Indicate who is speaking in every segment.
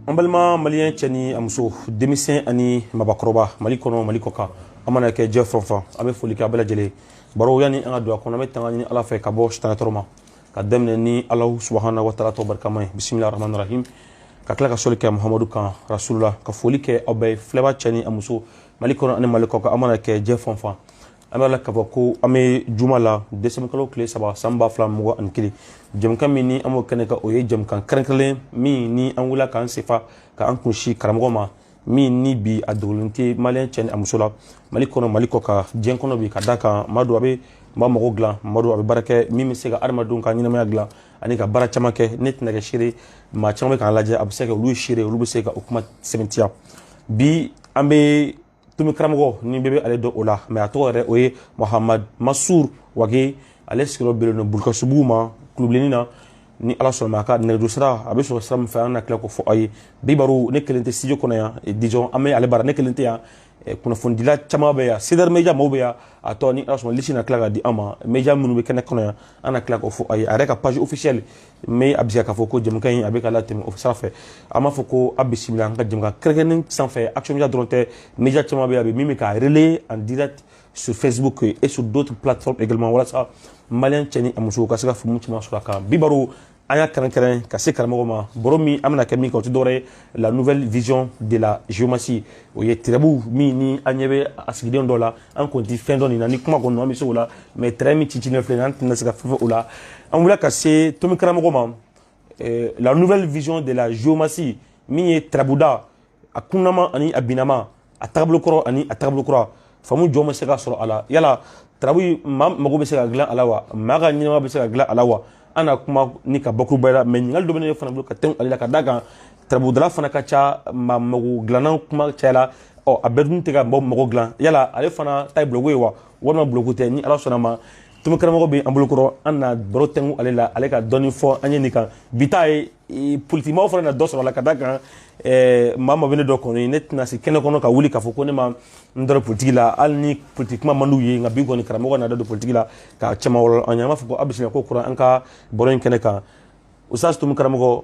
Speaker 1: an balima maliyɛn cɛ ni a muso denmisɛn ani mabakɔrɔba mali kɔnɔ mali kɔ kan aw mana kɛ diɲɛ fan o fan an bɛ foli kɛ a bɛɛ lajɛlen baro yanni an ka don a kɔnɔ an bɛ tanga ɲini ala fɛ ka bɔ sitanɛ tɔɔrɔ ma ka daminɛ ni ala subahana wa taala tɔgɔ barikama ye bisimila rahman rahim ka tila ka soli kɛ muhamadu kan rasulula ka foli kɛ aw bɛɛ filɛba cɛ ni a muso mali kɔnɔ ani mali kɔ kan aw mana kɛ diɲɛ fan o fan an b'a la k'a fɔ ko an bɛ juma la desanburukalo tile saba san ba fila mugan ani kelen jɛmukan min ni an b'o kɛnɛ kan o ye jamukan kɛrɛnkɛrɛnlen min ni an wulila k'an sen fa k'an kunsin karamɔgɔ ma min ni bi a dogolen tɛ maliyɛn cɛ ni a muso la mali kɔnɔ mali kɔ kan diɲɛ kɔnɔ bi ka d'a kan maa don a bɛ maa mago dilan maa don a bɛ baara kɛ min bɛ se ka adamadenw ka ɲɛnamaya dilan ani ka baara caman kɛ ne tɛna kɛ seere maa caman bɛ k'an lajɛ a bɛ se ka kɛ olu seere olu bɛ se ka o kuma sɛmɛntiya bi an bɛ tomi karamɔgɔ ni bɛɛ bɛ ale dɔn o la mais a tɔgɔ yɛrɛ o ye mahamadu masuru wage ale sigiyɔrɔ bɛnnen don bulukasunbugu ma kulubilenin na ni ala sɔnna a ka nɛgɛjuru sira a bɛ sɔrɔ sira min fɛ an na tila k'o fɔ aw ye bi baro ne kelen tɛ studio kɔnɔ yan eh, disons an bɛ ale bara ne kelen tɛ yan eh, kunnafonidila caman bɛ yan cdr media mɔgɔw bɛ yan a tɔ ni ala sɔnna lisi na tila ka di an ma media minnu bɛ kɛnɛ kɔnɔ yan an na tila k'o fɔ aw ye a yɛrɛ ka page officielle n b'a bisigiya k'a fɔ ko jɛmukan in a bɛ ka latɛmɛ o sira fɛ an b'a fɔ ko a bisimila an ka jɛmukan kɛrɛnkɛrɛnnen senfɛ action media dɔrɔn tɛ media caman bɛ yan bi min bɛ k'a relayer en direct sur Facebook et sur d'autres plateformes également walasa malien cɛ ni a musow ka se ka faamu caman sɔrɔ a kan bi baro an y'a kɛrɛnkɛrɛn ka se karamɔgɔ ma baro min an bɛna kɛ min kan o tɛ dɔwɛrɛ ye la nouvelle vision de la géomancie o ye tarabu min ni an ɲɛ bɛ a sigilen dɔ la an kɔni tɛ fɛn dɔn nin na ni kuma ko don an bɛ se o la mais trait min cicilen filɛ nin an tɛna se ka fɛn fɔ o la an wulila ka se tomi karamɔgɔ ma la nouvelle vision de la géomancie min ye tarabuda a kunnama ani a binama a tagabolo kɔrɔ ani a tagabolo kura faamu jumɛn bɛ se ka sɔrɔ a la yala tarabu maa mago bɛ se ka dilan a la wa maa ka ɲɛnamaya bɛ se ka dilan a la wa an na kuma ni ka bakuruba la mais ɲininkali dɔ bɛ ne fana bolo ka tɛmɛ ale la ka d'a kan tarabudala fana ka ca maa mago dilanna kuma cayala o a bɛɛ dun tɛ ka mɔgɔ mago dilan yala ale fana ta ye buloko ye wa walima buloko tɛ ni ala sɔnna a ma tomi karamɔgɔ bɛ an bolokɔrɔ an na baro tɛnku ale la ale ka dɔɔni fɔ an ye nin kan bi ta ye politikimaw fana na dɔ sɔrɔ a la ka d'a kan maa o maa bɛ ne dɔn kɔni ne tɛna se kɛnɛ kɔnɔ ka wuli k'a fɔ ko ne ma n dorogo politiki la hali ni politiki kuma man d'u ye nka bi kɔni karamɔgɔ na da don politiki la ka caman wɔlɔ an ye an b'a fɔ ko aw bisimila kokura an ka baro in kɛnɛ kan usitazi tomi karamɔgɔ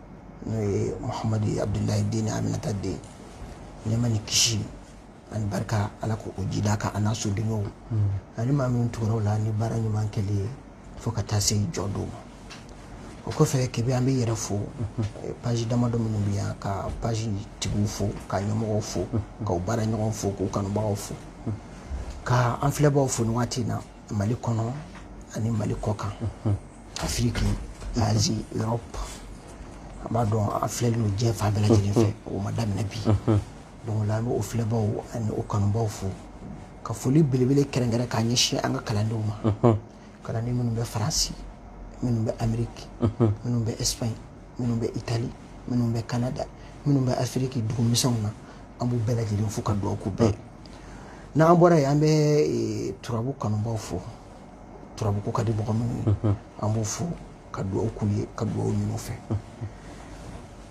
Speaker 2: n'o ye muhamadu ye abudulayi den ni aminata den nɛɛma ni kisi ani barika ala k'o jidi a kan an'a sodenw ani maa min tugura u la ni baara ɲuman kɛli ye fo ka taa se jɔdon ma o kɔfɛ kebe an b'i yɛrɛ fo eh, paji damadɔ minnu bɛ yan ka paji tigiw fo ka ɲɛmɔgɔw fo k'u baaraɲɔgɔn fo k'u kanubagaw fo ka an filɛbaaw fo nin waati in na mali kɔnɔ ani mali kɔkan afiriki azi europe an b'a dɔn an filɛlen don diɲɛ fan bɛɛ lajɛlen fɛ o ma daminɛ bi donc la an bɛ o filɛbaw ani o kanubaw fo ka foli belebele kɛrɛnkɛrɛn k'a ɲɛsin an ka kalandenw ma kalanden minnu bɛ faransi minnu bɛ ameriki minnu bɛ espagne minnu bɛ itali minnu bɛ canada minnu bɛ afiriki dugumisɛnw na an b'u bɛɛ lajɛlen fo ka dugawu k'u bɛɛ ye n'an bɔra yen an bɛ turabu kanubaw fo turabuko ka di mɔgɔ minnu ye mhm. an b'u fo ka dugawu k'u ye ka dugawu ɲin'u fɛ mhm.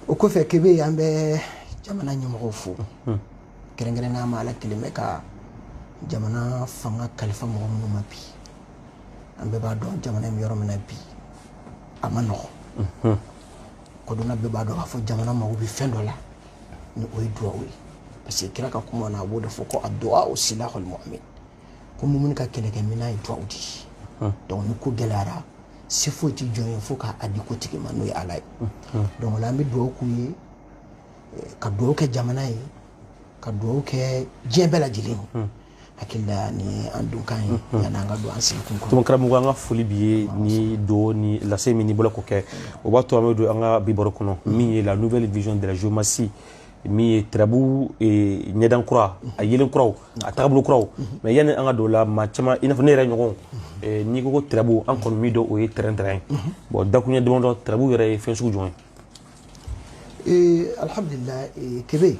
Speaker 2: o kɔfɛ kebe an bɛ jamana ɲɛmɔgɔw fo mhm. kɛrɛnkɛrɛnnenya ma ala kɛlen bɛ ka jamana fanga kalifa mɔgɔ minnu ma bi an bɛɛ b'a dɔn jamana in bɛ yɔrɔ min na bi a man nɔgɔn kodɔnna bɛɛ b'a dɔn k'a fɔ jamana mago bɛ fɛn dɔ la ni o ye duwawu ye parce que kira ka kuma na a b'o de fɔ ko aduwawu silahul mumin ko mumini ka kɛlɛkɛminɛn ye duwawu de ye hmm. donc ni ko gɛlɛyara se foyi tɛ jɔn ye fo k'a di ko tigi ma n'o ye ala ye hmm. Hmm. donc o la an bɛ duwawu k'u ye eh, ka duwawu kɛ jamana ye ka duwawu kɛ diɲɛ bɛɛ lajɛlen ye hakili la nin ye an donkan ye yanni an ka don an sigikun kɔnɔ tuma karamɔgɔ an ka foli
Speaker 1: b'i ye ni do ni lase min n'i bolo k'o kɛ o b'a to an bɛ don an ka bi baro kɔnɔ min ye la nouvelle vision de la géomancie min ye turabu ɲɛdan kura a yelen kuraw a tagabolo kuraw mais yanni an ka don o la maa caman i n'a fɔ ne yɛrɛ ɲɔgɔn n'i ko ko turabu an kɔni min dɔn o ye tɛrɛn tɛrɛn ye bon dakuruɲɛ damadɔ turabu yɛrɛ ye fɛn sugu jumɛn ye
Speaker 2: alihamudulila kebe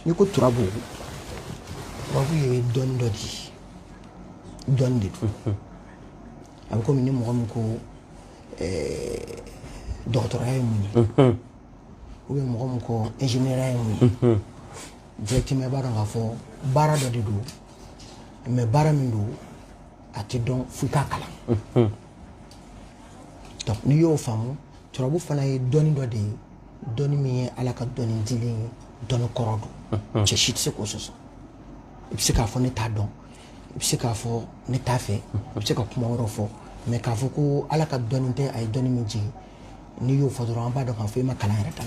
Speaker 2: n'i ko turabu turabu ye dɔnni dɔ di dɔnni de don a bɛ komi ni mɔgɔ min ko dɔgɔtɔrɔya ye mun ye ou bien mɔgɔ min ko ingénieur ye mun ye directement i b'a dɔn k'a fɔ baara dɔ de don mais baara min don a tɛ dɔn f'i k'a kalan donc n'i y'o faamu turabu fana ye dɔnni dɔ de ye dɔnni min ye ala ka dɔnni dilen ye dɔnni kɔrɔ don cɛ si tɛ se k'o sɔsɔ i bɛ se k'a fɔ ne t'a dɔn i bɛ se k'a fɔ ne t'a fɛ i bɛ se ka kuma wɛrɛw fɔ mais k'a fɔ ko ala ka dɔnni tɛ a ye dɔnni min jigin n'i y'o fɔ dɔrɔn an b'a dɔn k'a fɔ i ma kalan yɛrɛ ta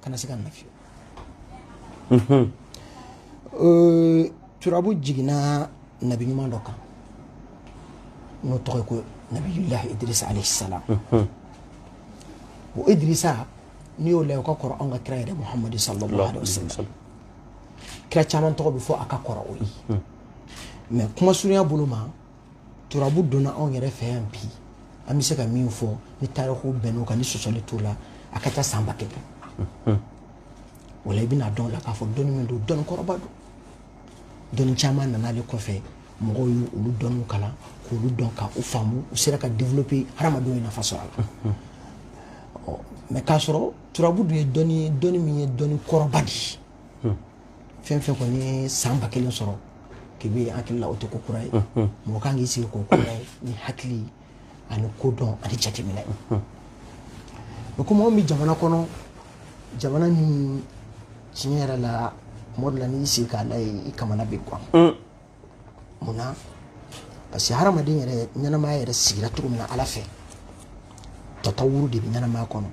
Speaker 2: kana sika a la fiyewu turabu jiginna nabi ɲuman dɔ kan n'o tɔgɔ ye ko nabiyulahi idirisa alayhi salam o idirisa n'i y'o layɛ o ka kɔrɔ anw ka kira yɛrɛ muhamadu sallallahu alayhi wa sallam kira caman tɔgɔ bɛ fɔ a ka kɔrɔ o ye mais kuma surunya bolo ma turabu donna anw yɛrɛ fɛ yan bi an bɛ se ka min fɔ ni tariku bɛnn'o kan ni sɔsɔli t'o la a ka ca san ba kelen hmm. o la i bɛn'a dɔn o la k'a fɔ dɔnni min don dɔnni kɔrɔba don dɔnni caman nana ale kɔfɛ mɔgɔw ye olu dɔnniw kalan k'olu dɔn ka u faamu u sera ka développer hadamadenw ye nafa sɔrɔ a la hmm. mais k'a sɔrɔ turabu dun ye dɔnni ye dɔnni min ye dɔnni kɔrɔba de ye hmm. fɛn fɛn kɔni ye san ba kelen sɔrɔ kebe n hakili la o tɛ ko kura ye hmm, mɔgɔ ka kan k'i sigi ko kura ye ni hakili ani kodɔn ani jateminɛ mais comme anw bɛ jamana kɔnɔ jamana min tiɲɛ yɛrɛ la tuma dɔ la n'i y'i sigi k'a layɛ i kamana bɛ gan mun na parce que hadamaden yɛrɛ ɲɛnamaya yɛrɛ sigira cogo min na ala fɛ tatawuru de bɛ ɲɛnamaya kɔnɔ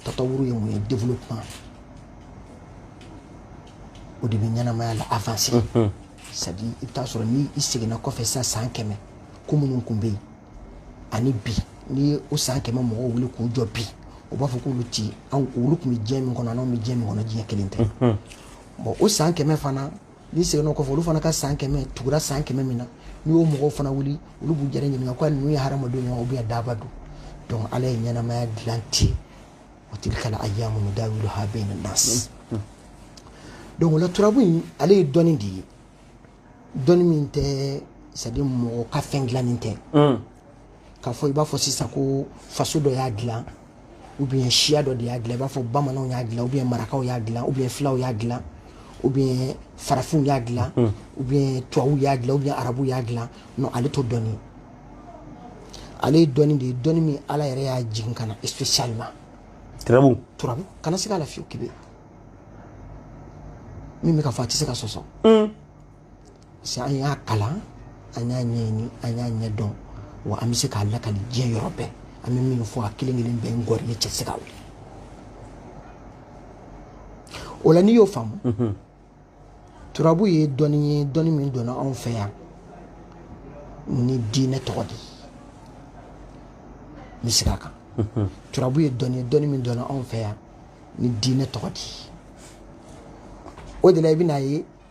Speaker 2: tatawuru ye mun ye développement o de bɛ ɲɛnamaya la avancer mhm. c'est à dire i bɛ t'a sɔrɔ ni i seginna kɔfɛ sisan san kɛmɛ ko minnu tun bɛ yen ani bi n'i ye o san kɛmɛ mɔgɔw wuli k'u jɔ bi u b'a fɔ k'olu ti an olu tun bɛ diɲɛ min kɔnɔ an'anw bɛ diɲɛ min kɔnɔ diɲɛ kelen tɛ mhm. bon o san kɛmɛ fana n'i seginna kɔfɛ olu fana ka san kɛmɛ tugura san kɛmɛ min na n'i y'o mɔgɔw fana wuli olu b'u yɛrɛ ɲininka ko ninnu ye hadamadenw ye ou bien daaba don donc ala ye ɲɛnamaya dilan ten wa tilkal ayamu nudawiluha bayna nas donc o la turabu in ale ye dɔnni de ye dɔnni min tɛ c'est à dire mɔgɔ ka fɛn dilannen tɛ k'a fɔ i b'a fɔ sisan ko faso dɔ y'a dilan ou bien siya dɔ de y'a dilan i b'a fɔ bamananw y'a dilan ou bien marakaw y'a dilan ou bien filaw y'a dilan ou bien farafinw y'a dilan hmm. ou bien tubabuw y'a dilan ou bien arabuw y'a dilan non ale t'o dɔnni ale ye dɔnni de ye dɔnni min ala yɛrɛ y'a jigin ka na spécialement turabu turabu kana sika a la fiyewu kebe min bɛ ka fɔ a tɛ se ka sɔsɔ hmm. parce que an y'a kalan an y'a ɲɛɲini an y'a ɲɛdɔn wa an bɛ se k'a lakali diɲɛ yɔrɔ bɛɛ an bɛ min fɔ a kelen kelen bɛɛ n gɔri ne cɛ se ka wuli o la n'i y'o faamu mhm. turabu ye dɔnni ye dɔnni min donna anw fɛ yan ni diinɛ tɔgɔ de ye n bɛ segin a kan mhm. turabu ye dɔnni ye dɔnni min donna anw fɛ yan ni diinɛ tɔgɔ de ye o de la i bɛn'a ye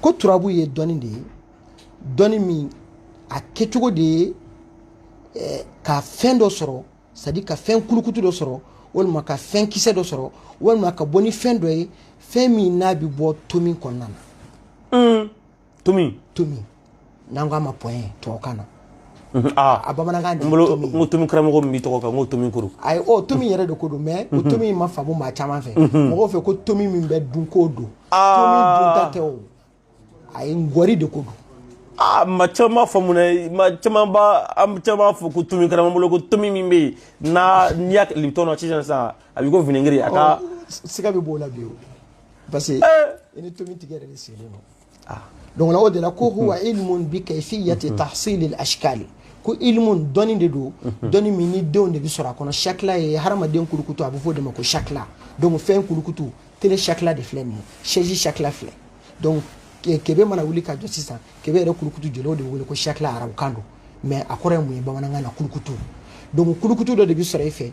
Speaker 2: ko turabu ye dɔnni de ye dɔnni min a kɛcogo de ye eh, ka fɛn dɔ sɔrɔ c'est-à-dire ka fɛn kulukutu dɔ sɔrɔ walima ka fɛn kisɛ dɔ sɔrɔ walima ka bɔ ni fɛn dɔ ye fɛn min n'a bɛ bɔ tomi kɔnɔna na mm. tomi
Speaker 1: tomi
Speaker 2: n'an k'a ma point tubabukan na Mhm. Ah.
Speaker 1: a bamanankan de
Speaker 2: bolo n ko tomi
Speaker 1: karamɔgɔ min b'i tɔgɔ kan n ko tomi kuru ayi o tomi yɛrɛ de ko
Speaker 2: don mais o mhm. tomi in ma faamu maa caman fɛ mhm. mɔgɔw fɛ ko tomi min bɛ dun k'o don ah. tomi dunta tɛ o a ye ngɔri de ko don aa ah, maa
Speaker 1: caman b'a faamu dɛ maa caman b'a an caman b'a fɔ ko tomi karamɔgɔ bolo ko tomi min bɛ yen n'a n'i y'a kɛ libitɔn na sisan sisan a b'i ko vinɛgiri a ka oh, siga bɛ b'o la
Speaker 2: bi o parce que eh. i ni tomi tigɛ yɛrɛ de sigilen don ah. donc o de la ko huwa mhm. ilmun bi kayfiyati mhm. tahsili al-ashkali ko ilmun dɔnni de don mhm. dɔnni min ni denw de bɛ sɔrɔ a kɔnɔ shakila ye hadamaden kulukutu a bɛ fɔ o de ma ko shakila donc fɛn kulukutu télé shakila de filɛ nin ye chaise shakila filɛ donc kebe mana wuli ka jɔ sisan kebe yɛrɛ kulukutu jɔlen o de bɛ wele ko shakila arabukan don mais a kɔrɔ ye mun ye bamanankan na kulukutu donc kulukutu dɔ de bɛ sɔrɔ e fɛ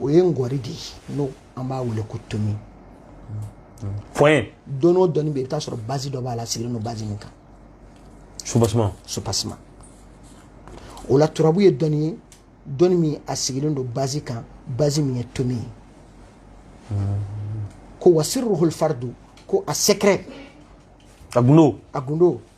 Speaker 2: o ye ngɔri de ye n'o an b'a wele ko
Speaker 1: tomi point dɔnni
Speaker 2: o dɔnni bɛ yen i bɛ t'a sɔrɔ base dɔ b'a la sigilen don base min kan soubassement soubassement o la turabu ye dɔnni ye dɔnni min a sigilen don base kan base min ye tomi ye ko wa sirruhul fardu ko a secret a
Speaker 1: gundo a gundo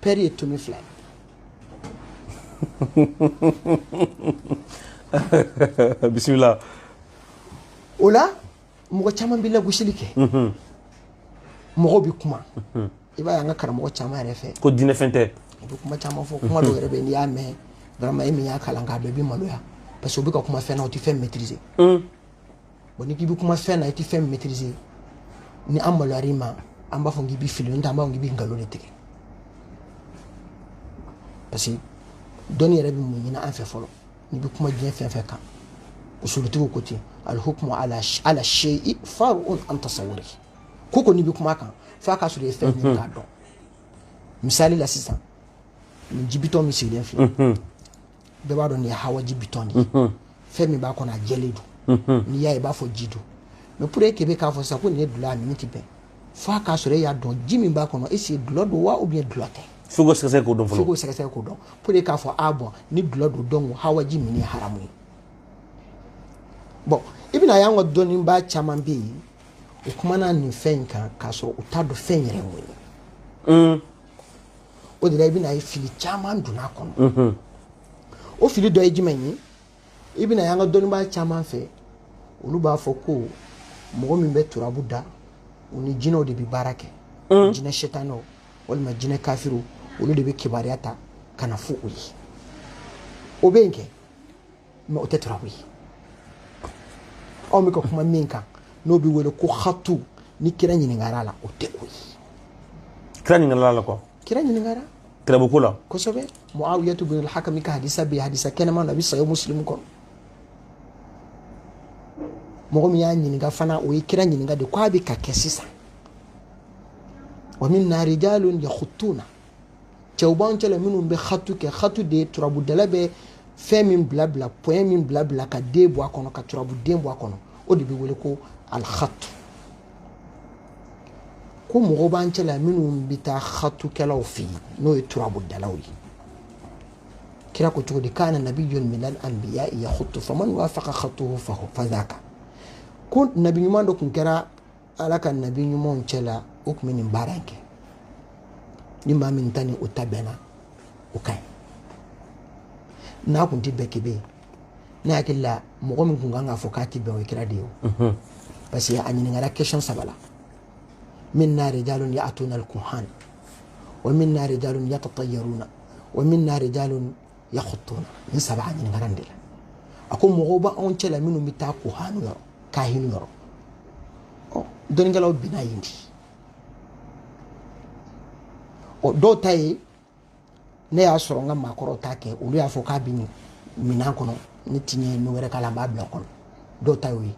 Speaker 2: pair ye tomi fila
Speaker 1: ye bisimila
Speaker 2: o la mɔgɔ caman bɛ lagosili kɛ mhm. mɔgɔw bɛ kuma mhm. i b'a ye an ka karamɔgɔ caman yɛrɛ fɛ ko diinɛfɛn tɛ u
Speaker 1: bɛ kuma caman
Speaker 2: fɔ kuma dɔw yɛrɛ bɛ n'i y'a mɛn vraiment e min y'a kalan k'a dɔn i bɛ maloya parce que u bɛ ka kuma fɛn na u tɛ fɛn maîtriser bon ni k'i bɛ kuma fɛn na i tɛ fɛn maîtriser ni an maloyar'i ma an b'a fɔ k'i bɛ fili n'o tɛ an b'a fɔ k'i bɛ nkalon de tigɛ parce que dɔnni yɛrɛ bɛ mun ɲini an fɛ fɔlɔ n'i bɛ kuma diɲɛ fɛn fɛn kan usulutigiw ko ten al-hukmu ala ala shay'i far'un an tasawwurihi ko n'i bɛ kuma kan f'a ka sɔrɔ i ye fɛn ɲini k'a dɔn misali la sisan nin ji bitɔn min sigilen filɛ bɛɛ b'a dɔn nin ye hawaji bitɔn de ye mhm. fɛn min b'a kɔnɔ a jɛlen don mhm. n'i y'a ye i b'a fɔ ji don mais pour que kebe k'a fɔ sisan ko nin ye dulɔ a min tɛ bɛn fo a k'a sɔrɔ e y'a dɔn ji min b'a kɔnɔ est-ce que dulɔ don wa ou bien dulɔ tɛ fo k'o sɛgɛsɛgɛ k'o dɔn
Speaker 1: fɔlɔ fo k'o sɛgɛsɛgɛ k'o
Speaker 2: dɔn pour que k'a fɔ ah bon ni dulɔ don donc o hawaji min ye haramu ye bon i bɛna y'an ka dɔnnibaa caman bɛ yen u kumana nin fɛn in kan k'a sɔrɔ u t'a dɔn fɛn yɛrɛ ye mun ye o de la i bɛna ye fili caman donna a kɔnɔ o fili dɔ ye jumɛn ye i bɛna y'an ka dɔnnibaa caman fɛ olu b'a fɔ ko mɔgɔ min bɛ turabu da u ni jinɛw de bɛ baara kɛ jinɛ setanɛw walima jinɛ kafiriw olu de bɛ kibaruya ta ka na fɔ u ye o bɛ yen kɛ mɛ o tɛ turabu ye anw bɛ ka kuma min kan n'o bɛ wele ko hatu ni kira ɲininkara la o tɛ o ye kira ɲininkara la
Speaker 1: quoi kira ɲininkara
Speaker 2: turabu ko la
Speaker 1: kosɛbɛ muawiyatu
Speaker 2: bin alhakami ka hadisa bɛ hadisa kɛnɛma na a bɛ sahihu musilimu kɔnɔ mɔgɔ min y'a ɲininka fana o ye kira ɲininka de ko a bɛ ka kɛ sisan wa minna rijalun yakhutuna cɛw b'an cɛla minnu bɛ hatu kɛ hatu de ye turabudala bɛ fɛn min bila bila pɔyɛn min bila bila ka den bɔ a kɔnɔ ka turabuden bɔ a kɔnɔ o de bɛ wele ko alihatu ko mɔgɔw b'an cɛla minnu bɛ taa hatukɛlaw fɛ yen n'o ye turabudalaw ye kira ko cogo di kana nabiyun minal anbiya yahutu faman wafaqa khatuhu fahu fadhaka ko nabi ɲuman dɔ tun kɛra ala ka nabi ɲumanw cɛla o tun bɛ nin baara in kɛ ni maa min ta ni o ta bɛnna o ka ɲi n'a kun tɛ bɛn k'i bɛ yen ne hakili la mɔgɔ min kun kan k'a fɔ k'a tɛ bɛn o ye kira de ye o mhm. parce que a ɲininkara question saba la minna rijalun ya'tuna al-kuhan wa minna rijalun yatatayaruna wa minna rijalun yakhutuna nin saba a ɲininkara nin de la a ko mɔgɔw b'anw cɛla minnu bɛ taa kuhanu yɔrɔ kahinu yɔrɔ ɔ dɔnnikɛlaw bina yen di ɔ dɔw ta ye ne y'a sɔrɔ n ka maakɔrɔw t'a kɛ olu y'a fɔ k'a bɛ minan kɔnɔ ne ti ɲɛ n'o wɛrɛ k'a la n b'a bila kɔnɔ dɔw ta y'o ye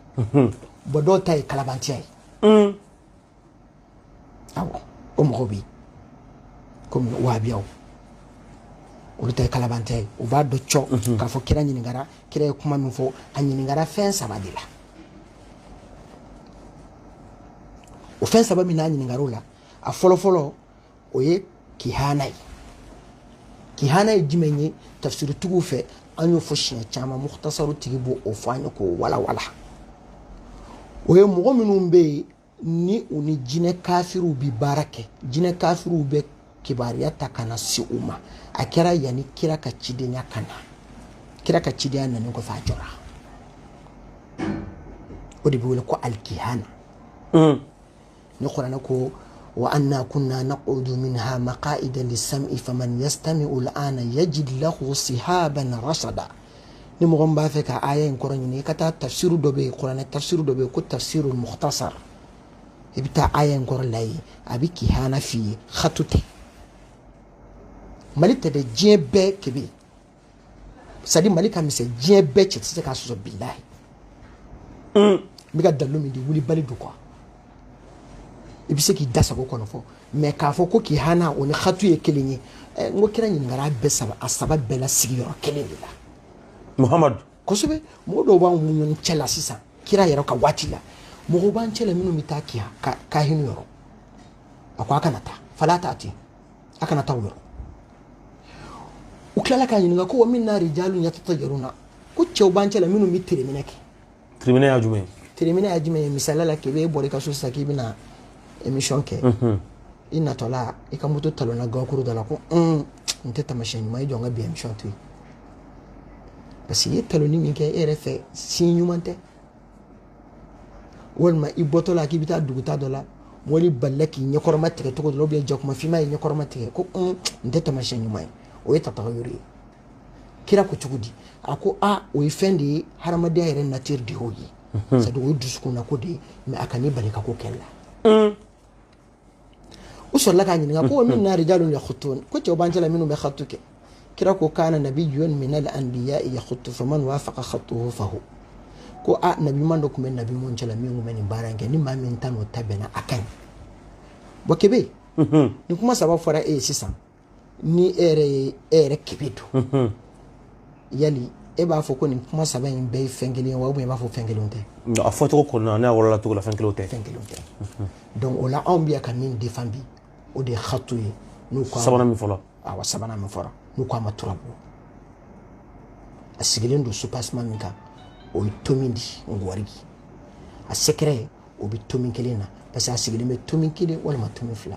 Speaker 2: bɔn dɔw ta ye kalabantiya ye awɔ o mɔgɔw bɛ yen komi wahabiyaw olu ta ye kalabantiya ye u b'a dɔn cɔ mhm. k'a fɔ kira ɲininkara kira ye kuma min fɔ a ɲininkara fɛn saba de la o fɛn saba min a ɲininkara o la a fɔlɔfɔlɔ o ye kihana ye kihana ye jumɛn ye tafsiritigiw fɛ an y'o fɔ siɲɛ caman mukutasaru tigi b'o fɔ an ye k'o walawala o ye mɔgɔ minnu bɛ yen ni u ni jinɛ kafiriw bi baara kɛ jinɛ kafiriw bɛ kibaruya ta ka na se u ma a kɛra yanni kira ka cidenya ka na kira ka cidenya nanen kɔfɛ a jɔra o de bɛ wele ko alikihana hmm. ni kurana ko wa anna kunna naqudu minha maqaida lissami faman yastamiu lana yajid lahu sihaban rasada ni mɔgɔ min b'a fɛ ka aya in kɔrɔ ɲini i ka taa tafsiru dɔ bɛ yen kuranɛ tafsiru dɔ bɛ yen ko tafsiru muhtasar i bɛ taa aya in kɔrɔ lajɛ a bɛ kihana f'i ye hatu tɛ mali tɛ dɛ diɲɛ bɛɛ kebe c'est-à-dire mali ka misɛn diɲɛ bɛɛ cɛ tɛ se k'a sɔsɔ bilahi n bɛ ka dalilu min di wulibali don kuwa i bɛ se k'i da sago kɔnɔ fɔ mɛ k'a fɔ ko kihana o ni hatu ye kelen ye eh, n ko kira ɲininkara bɛɛ saba a saba bɛɛ la sigiyɔrɔ kelen de la muhamadu
Speaker 1: kosɛbɛ
Speaker 2: mɔgɔ dɔw b'an ni ɲɔgɔn cɛ la sisan kira yɛrɛ ka waati la mɔgɔw b'an cɛ la minnu bɛ taa kiya kahinu yɔrɔ a ko a kana taa fala taati a kana taa o yɔrɔ u tilala k'a ɲininka ko wa minna rijalun yatatayaruna ko cɛw b'an cɛ la minnu bɛ tereminɛ kɛ tereminɛ
Speaker 1: y'a jumɛn ye tereminɛ y'a jumɛn ye misaliya la kebe e bɔra i
Speaker 2: ka so sisan k'i bɛna émission kɛ i natɔla i ka moto talonna gakuru dɔ la ko un nin tɛ tamasiyɛn ɲuman ye jɔ n ka bi émission to yen parce que i ye talonni min kɛ e yɛrɛ fɛ signe ɲuman tɛ walima i bɔtɔ la k'i bɛ taa duguta dɔ la wulu balala k'i ɲɛkɔrɔma tigɛ cogo dɔ la jakuma finma ye ɲɛkɔrɔma tigɛ ko nin tɛ tamasiyɛn ɲuman ye o ye tatayuru ye kira ko cogo di a ko a o ye fɛn de ye hadamadenya yɛrɛ nature de y'o ye mhm. c'est-à-dire o ye dusukunna ko de ye mɛ a kan'i bali ka ko kɛli la mm. u sɔrɔla k'a ɲininka ko minna rijalun yakhutun ko cɛw b'an cɛla minnu bɛ khatu kɛ kira ko kana nabiyun min al anbiya yakhutu faman wafaqa khatuhu fahu ko a nabiɲuman dɔ tun bɛ nabiɲumanw cɛla min tun bɛ nin baara in kɛ ni maa min ta n'o ta bɛnna a ka ɲi bɔn kebe mhm. nin kuma saba fɔra e ye sisan ni e yɛrɛ ye e yɛrɛ kebe don yali e b'a fɔ ko nin kuma saba in bɛɛ ye fɛn kelen ye wa ou bien i b'a fɔ fɛn kelenw tɛ a fɔcogo kɔnɔna
Speaker 1: n'a walawala cogo la fɛn kelenw tɛ fɛn kelenw tɛ
Speaker 2: donc o la anw bɛ yan ka min defan bi o de ye hatu ye n'u ko sabanan min fɔla
Speaker 1: awa sabanan min
Speaker 2: fɔra n'u ko a ma turabu a sigilen don soubassement min kan o ye tomin di ngwari a secret o bɛ tomin kelen na parce que a sigilen bɛ tomin kelen walima tomin fila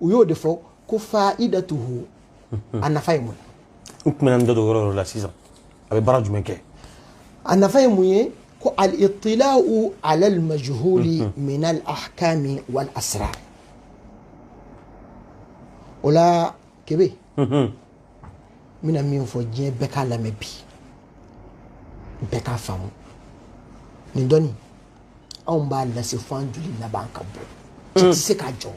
Speaker 2: u y'o de fɔ ko faidatuhu a nafa ye mun ye n tun bɛna n da
Speaker 1: don yɔrɔ yɔrɔ la sisan a bɛ baara jumɛn kɛ a nafa ye
Speaker 2: mun ye ko al itila'u ala al majhuli min al ahkami wal asrar o la kebe n bɛna min fɔ diɲɛ bɛɛ k'a lamɛn bi bɛɛ k'a faamu nin dɔnni anw b'a lase fo an joli laban ka bɔ cɛ tɛ se k'a jɔ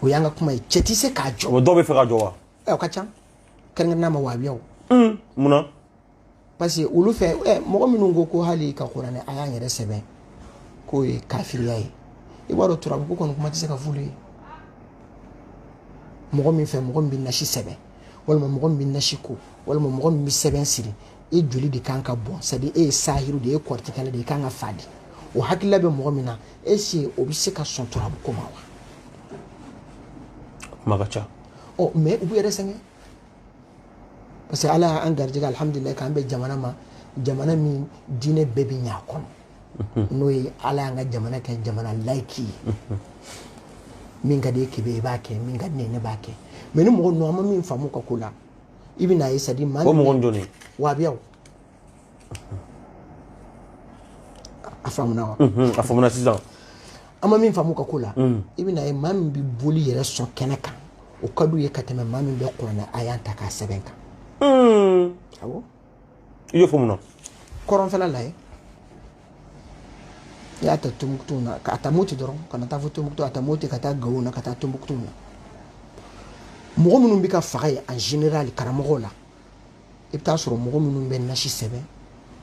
Speaker 2: o y'an ka kuma ye cɛ tɛ se k'a jɔ o dɔw b'a fɛ k'a jɔ wa
Speaker 1: ɛ o ka ca
Speaker 2: kɛrɛnkɛrɛnnenya ma wahabiyaw mun na parce que olu fɛ ɛ mɔgɔ minnu ko ko hali ka kuranɛ aya yɛrɛ sɛbɛn k'o ye kafiriya ye i b'a dɔn turabu ko kɔni kuma tɛ se ka f'olu ye mɔgɔ min fɛ mɔgɔ min bɛ nasi sɛbɛn walima mɔgɔ min bɛ nasi ko walima mɔgɔ min bɛ sɛbɛn siri e joli de kan ka bɔn c'est à dire e ye sahiru de ye kɔrɔtikɛla de ye kan ka faa dɛ o hakilila bɛ mɔgɔ min na est-ce que o bɛ se ka sɔn turabu ko ma wa kuma
Speaker 1: ka ca ɔ mais u b'u
Speaker 2: yɛrɛ sɛgɛn parce que ala y'an garijɛgɛ alihamudulila k'an bɛ jamana ma jamana min diinɛ bɛɛ bɛ ɲɛ a kɔnɔ n'o ye ala y'an ka jamana kɛ jamana layiki ye min ka d'i ye kebe i b'a kɛ min ka di ne ye ne b'a kɛ mais nin mɔgɔ ninnu an ma min faamu u ka ko la i bɛ n'a ye c'est à dire maa o mɔgɔ
Speaker 1: jɔn
Speaker 2: wahabiyaw a faamuna wa a faamuna sisan
Speaker 1: an ma min
Speaker 2: faamu u ka ko la i bɛ n'a ye maa min bɛ boli yɛrɛ sɔn kɛnɛ kan o ka d'u ye ka tɛmɛ maa min bɛ kuranɛ aya ta k'a sɛbɛn kan awɔ
Speaker 1: i y'o fɔ mun na kɔrɔnfɛla lajɛ
Speaker 2: i y'a ta tombouctou na a ta moti dɔrɔn kana taa fo tombouctou a ta moti ka taa gawo na ka taa tombouctou na mɔgɔ minnu bɛ ka faga yen en général karamɔgɔw la i bɛ taa sɔrɔ mɔgɔ minnu bɛ nasi sɛbɛn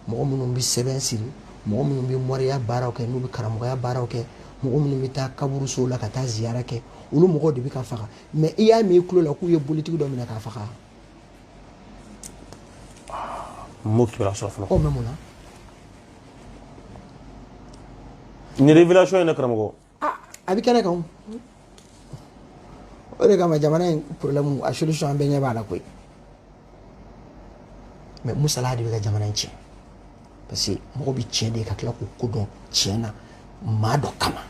Speaker 2: mɔgɔ minnu bɛ sɛbɛn siri mɔgɔ minnu bɛ mɔriya baaraw kɛ n'u bɛ karamɔgɔya baaraw kɛ mɔgɔ minnu bɛ taa kaburusow la ka taa ziyara kɛ olu mɔgɔw de bɛ ka faga mais i y'a mɛn i tulo la k'u ye bolitigi dɔ minɛ k'a faga
Speaker 1: n m'o kibaruya sɔrɔ fɔlɔ. o mais mun na. nin révélation in dɛ karamɔgɔ. aa a bɛ
Speaker 2: kɛnɛ kan o. o de kama jamana in problème a solution an bɛɛ ɲɛ b'a la koyi. mais musala de bɛ ka jamana in tiɲɛ. parce que mɔgɔ bɛ tiɲɛ de ka tila k'u kɔ don tiɲɛ na maa dɔ kama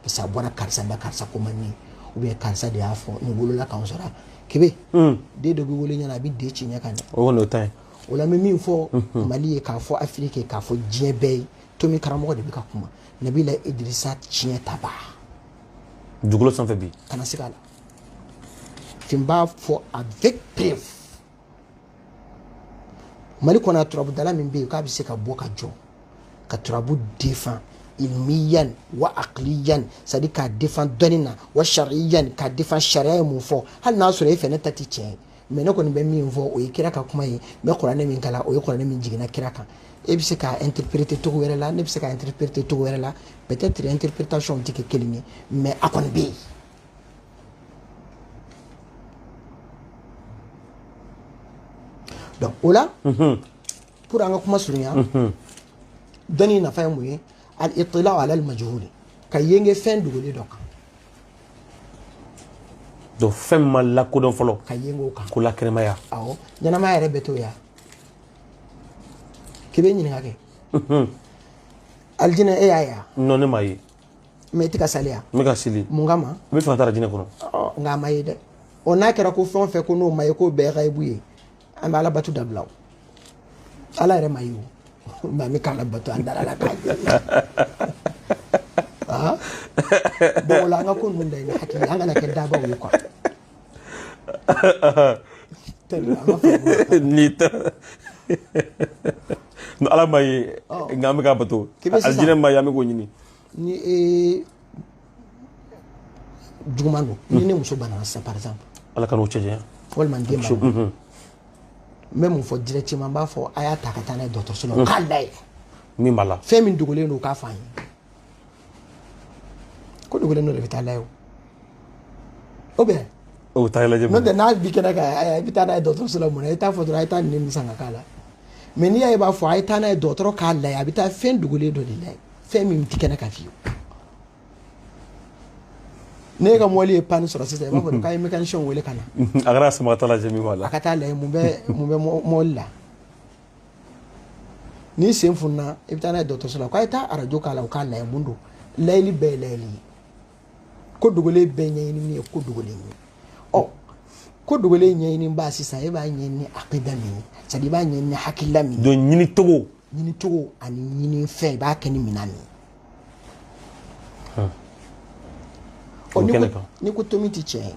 Speaker 2: parce que a bɔra karisa la karisa ko man di ou bien karisa de y'a fɔ nin wolola k'an sɔrɔ kebe hmm. den dɔ bɛ wolo ɲɛna a bɛ den ci ɲɛ ka ɲɛ o kɔni o ta ye
Speaker 1: o la n bɛ min
Speaker 2: fɔ hmm. mali ye k'a fɔ afiriki ye k'a fɔ diɲɛ bɛɛ ye tomi karamɔgɔ de bɛ ka kuma nabila idirisa tiɲɛ taba
Speaker 1: dugukolo sanfɛ bi kana se k'a la
Speaker 2: fin b'a fɔ avec preuve mali kɔnɔ a turabudala min bɛ yen k'a bɛ se ka bɔ ka jɔ ka turabu défend ilmiyan wa aqliyan c'est à dire k'a défend dɔnni na wa sariyan k'a défend sariya ye mun fɔ hali n'a sɔrɔ e fɛ ne ta tɛ tiɲɛ ye mais ne kɔni bɛ min fɔ o ye kira ka kuma ye n bɛ kuranɛ min kalan o ye kuranɛ min jiginna kira kan e bɛ se k'a interpréter cogo wɛrɛ la ne bɛ se k'a interpréter cogo wɛrɛ la peut-être interprétation tɛ kɛ kelen ye mais a kɔni bɛ yen donc o la mhm. pour an ka kuma surunya mhm. dɔnni nafa ye mun ye al itila ala al majhuli ka yenge fɛn dogolen dɔ
Speaker 1: kan donc fɛn ma lakodɔn fɔlɔ ka yenge o kan
Speaker 2: k'o lakɛnɛmaya
Speaker 1: awɔ
Speaker 2: ɲɛnamaya yɛrɛ bɛ to yan k'i bɛ ɲininka kɛ alijinɛ e y'a ye wa non ne m'a ye
Speaker 1: mais i tɛ
Speaker 2: ka sali wa n bɛ ka seli mun
Speaker 1: kama n b'a fɛ ka taa
Speaker 2: alijinɛ
Speaker 1: kɔnɔ nka a ma ye
Speaker 2: dɛ ɔ n'a kɛra ko fɛn o fɛn ko n'o ma ye k'o bɛɛ gayibu ye an bɛ ala bato dabila o ala yɛrɛ ma ye o mais an bɛ k'ala bato an dara a la k'a ye bon o la an ka ko ninnu da i ni hakili an kana kɛ dabaw ye quoi
Speaker 1: n'o tɛ ala ma ye nka an bɛ k'a bato alijinɛ ma ye an bɛ k'o ɲini ni ee
Speaker 2: juguman don ni ne muso banana sisan par exemple ala k'an n'o cɛ
Speaker 1: janya walima n den
Speaker 2: ma n bɛ mun fɔ directement n b'a fɔ a y'a ta ka taa n'a ye dɔgɔtɔrɔso la u k'a layɛ min b'a la
Speaker 1: fɛn min dogolen don u k'a fɔ an
Speaker 2: ye ko dogolen dɔ de bɛ taa layɛ o o bɛn o taa lajɛ
Speaker 1: n'o tɛ n'a bi kɛnɛ
Speaker 2: kan i bɛ taa n'a ye dɔgɔtɔrɔso la mun na i t'a fɔ dɔrɔn a ye taa nin san ka k'a la mais n'i y'a ye i b'a fɔ a ye taa n'a ye dɔgɔtɔrɔ k'a layɛ a bɛ taa fɛn dogolen dɔ de layɛ fɛn min tɛ kɛnɛ kan fiyewu n'e ka mɔbili ye panne sɔrɔ sisan i b'a fɔ k'a ye mécanicien wele ka na a kɛra sama ka
Speaker 1: taa lajɛ min b'a la a ka taa layɛ mun bɛ
Speaker 2: mun bɛ mɔbili la n'i sen funna i bɛ taa n'a ye dɔgɔtɔrɔso la k'a ye taa arajo k'a la u k'a layɛ mun don layɛli bɛɛ ye layɛli ye ko dogolen bɛɛ ɲɛɲini min ye ko dogolen ye ɔ ko dogolen ɲɛɲini b'a sisan e b'a ɲɛɲini akida min ye c'est à dire i b'a ɲɛɲini hakilila min ye donc ɲini
Speaker 1: cogo ɲini cogo ani
Speaker 2: ɲini fɛn i b'a kɛ ni minan min ye ɔ n'i ko tomi tɛ tiɲɛ ye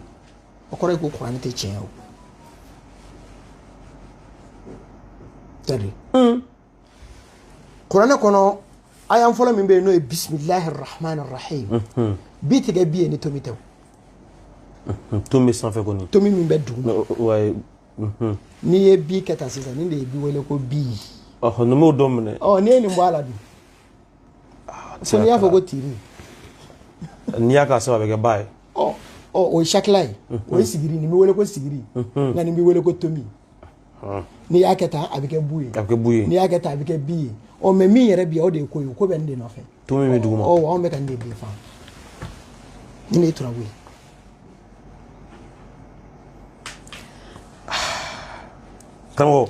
Speaker 2: o kɔrɔ ye ko kuranɛ tɛ tiɲɛ ye o c'est à dire kuranɛ kɔnɔ aya fɔlɔ min bɛ yen n'o ye bisimilahi rahman rahim bi tɛ kɛ bi ye ni tomi tɛ o tomi bɛ sanfɛ
Speaker 1: kɔni tomi min bɛ
Speaker 2: duguma n'i ye bi kɛ tan sisan nin de ye bi wele ko bi ɔhɔn nin b'o dɔ
Speaker 1: minɛ ɔ
Speaker 2: n'i ye nin bɔ a la dun fo n'i y'a fɔ ko
Speaker 1: tiri n'i y'a kɛ sanfɛ a bɛ kɛ ba ye ɔ ɔ o
Speaker 2: ye sakila ye o ye sigiri nin bɛ wele ko sigiri nka nin bɛ wele ko tomi n'i y'a kɛ tan a bɛ kɛ bu ye a bɛ kɛ bu ye n'i y'a kɛ tan
Speaker 1: a bɛ kɛ bi
Speaker 2: ye ɔ mais min yɛrɛ bi o de ye ko ye ko bɛ nin de nɔfɛ tomi bɛ duguma ɔ
Speaker 1: anw bɛ ka nin de
Speaker 2: défendre nin de ye turabu ye
Speaker 1: karamɔgɔ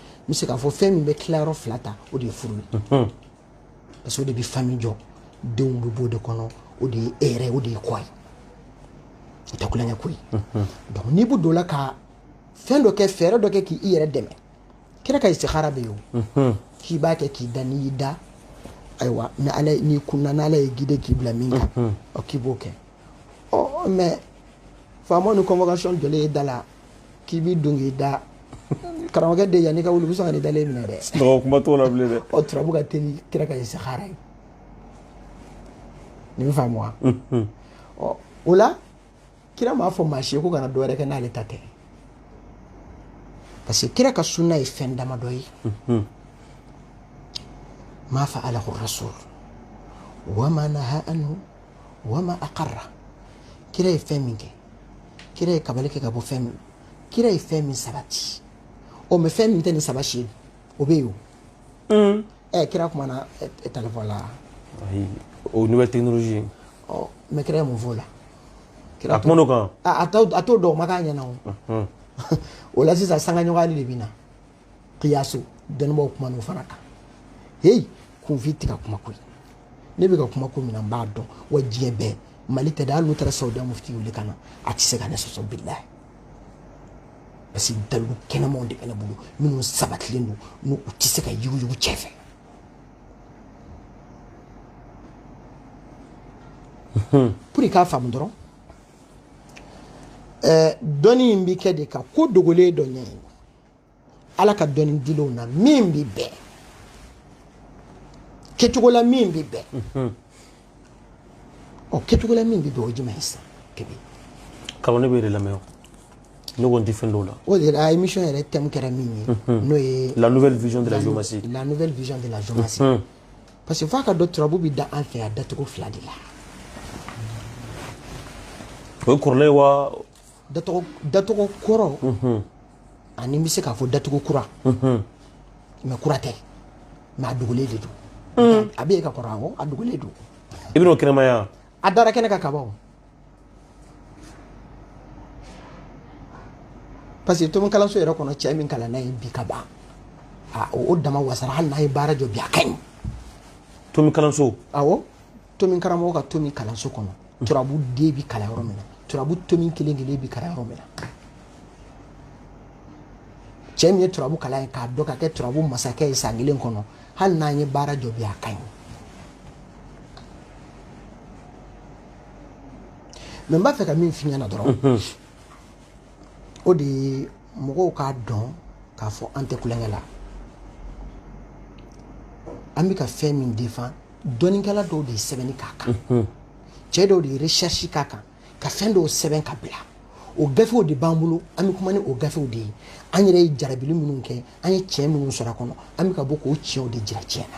Speaker 2: n bɛ se k'a fɔ fɛn min bɛ tilayɔrɔ fila ta o de ye furu ye parce que o de bɛ famille jɔ denw bɛ b'o de kɔnɔ o de ye e yɛrɛ o de ye kɔ ye o tɛ tulonkɛ ko ye donc n'i bɛ don o la ka fɛn dɔ kɛ fɛɛrɛ dɔ kɛ k'i yɛrɛ dɛmɛ kira ka istikhara bɛ yen o k'i b'a kɛ k'i da n'i y'i da ayiwa ni ala n'i kunna n'ala y'i guide k'i bila min kan ɔ k'i b'o kɛ mais faamaw ni convocation jɔlen ye da la k'i b'i don k'i da karamɔgɔkɛ de yann'i ka wuli u bɛ sɔn ka nin dalen minɛ dɛ sunɔgɔ kuma t'o la bilen dɛ
Speaker 1: ɔ turabu ka teli kira
Speaker 2: ka istikhara ye nin bɛ faamu wa ɔ o la kira m'a fɔ maa si ye ko kana dɔ wɛrɛ kɛ n'ale ta tɛ parce que kira ka sunna ye fɛn damadɔ ye ma fa'alahu rasul wa ma naha anhu wa ma aqarra kira ye fɛn min kɛ kira ye kabali kɛ ka bɔ fɛn min kira ye fɛn min sabati o mais fɛn min tɛ nin saba si ye o bɛ yen o ɛ kira kumana telefɔni la
Speaker 1: o nouvelle technologie ɔ mais
Speaker 2: kira ye mun fɔ o la a
Speaker 1: kuman'o kan a t'o dɔn o
Speaker 2: ma k'a ɲɛna o o la sisan sangaɲɔgɔnyali de bɛ na kiyasu dɔnnibaaw kuman'o fana kan heyi kunfin tɛ ka kuma ko ye ne bɛ ka kuma ko min na n b'a dɔn wa diɲɛ bɛɛ mali tɛ dɛ hali n'u taara sawudiya mufti wuli ka na a tɛ se ka ne sɔsɔ bilahi parce que dalilu kɛnɛmanw de bɛ ne bolo minnu sabatilen don n'u tɛ se ka yuguyugu c'est fait pour i k'a faamu dɔrɔn dɔnni in bɛ kɛ de ka ko dogolen dɔ ɲɛɲini ala ka dɔnni dilenw na min bɛ bɛn kɛcogo la min bɛ bɛn mhm. ɔ kɛcogo la min bɛ bɛn o jumɛn ye sisan kɛmɛ kalo ne
Speaker 1: bɛ yɛrɛ lamɛn o ne ko n tɛ fɛn dɔw la o de la émission
Speaker 2: yɛrɛ thème kɛra min ye mhm. n'o ye la nouvelle vision de
Speaker 1: la géomancie la nouvelle vision de
Speaker 2: la géomancie mhm. parce que f'a k'a dɔn turabu bɛ da an fɛ yan dacogo fila de la
Speaker 1: o ye kɔrɔlen ye wa
Speaker 2: dacogo kɔrɔ an'i bɛ se k'a fɔ dacogo kura mais kura tɛ mais a dogolen de don mm. a bɛ yen ka kɔrɔ awɔ a dogolen don i bɛna o kɛnɛmaya
Speaker 1: a dara kɛnɛ
Speaker 2: kan kaban o parce que tomi kalanso yɛrɛ kɔnɔ cɛ min kalanna yen bi ka ban o dama wasara hali n'a ye baara jɔ bi a ka ɲi tomi
Speaker 1: kalanso aw
Speaker 2: tomi karamɔgɔ ka tomi kalanso kɔnɔ turabu den bi kalan yɔrɔ min na turabu tomi kelen kelen bi kalan yɔrɔ min na cɛ min ye turabu kalan ye k'a dɔn ka kɛ turabu masakɛ ye san kelen kɔnɔ hali n'an ye baara jɔ bi a ka ɲi mɛ n b'a fɛ ka min f'i ɲɛna dɔrɔn mhm. o de ye mɔgɔw k'a dɔn k'a fɔ an tɛ kulonkɛ la an bɛ ka fɛn min defan dɔnnikɛla dɔw de ye sɛbɛnni k'a kan cɛ dɔw de ye recherche k'a kan ka fɛn dɔw sɛbɛn ka bila o gafew de b'an bolo an bɛ kuma ni o gafew de ye an yɛrɛ ye jarabili minnu kɛ an ye tiɲɛ minnu sɔrɔ a kɔnɔ an bɛ ka bɔ k'o tiɲɛw de jira tiɲɛ na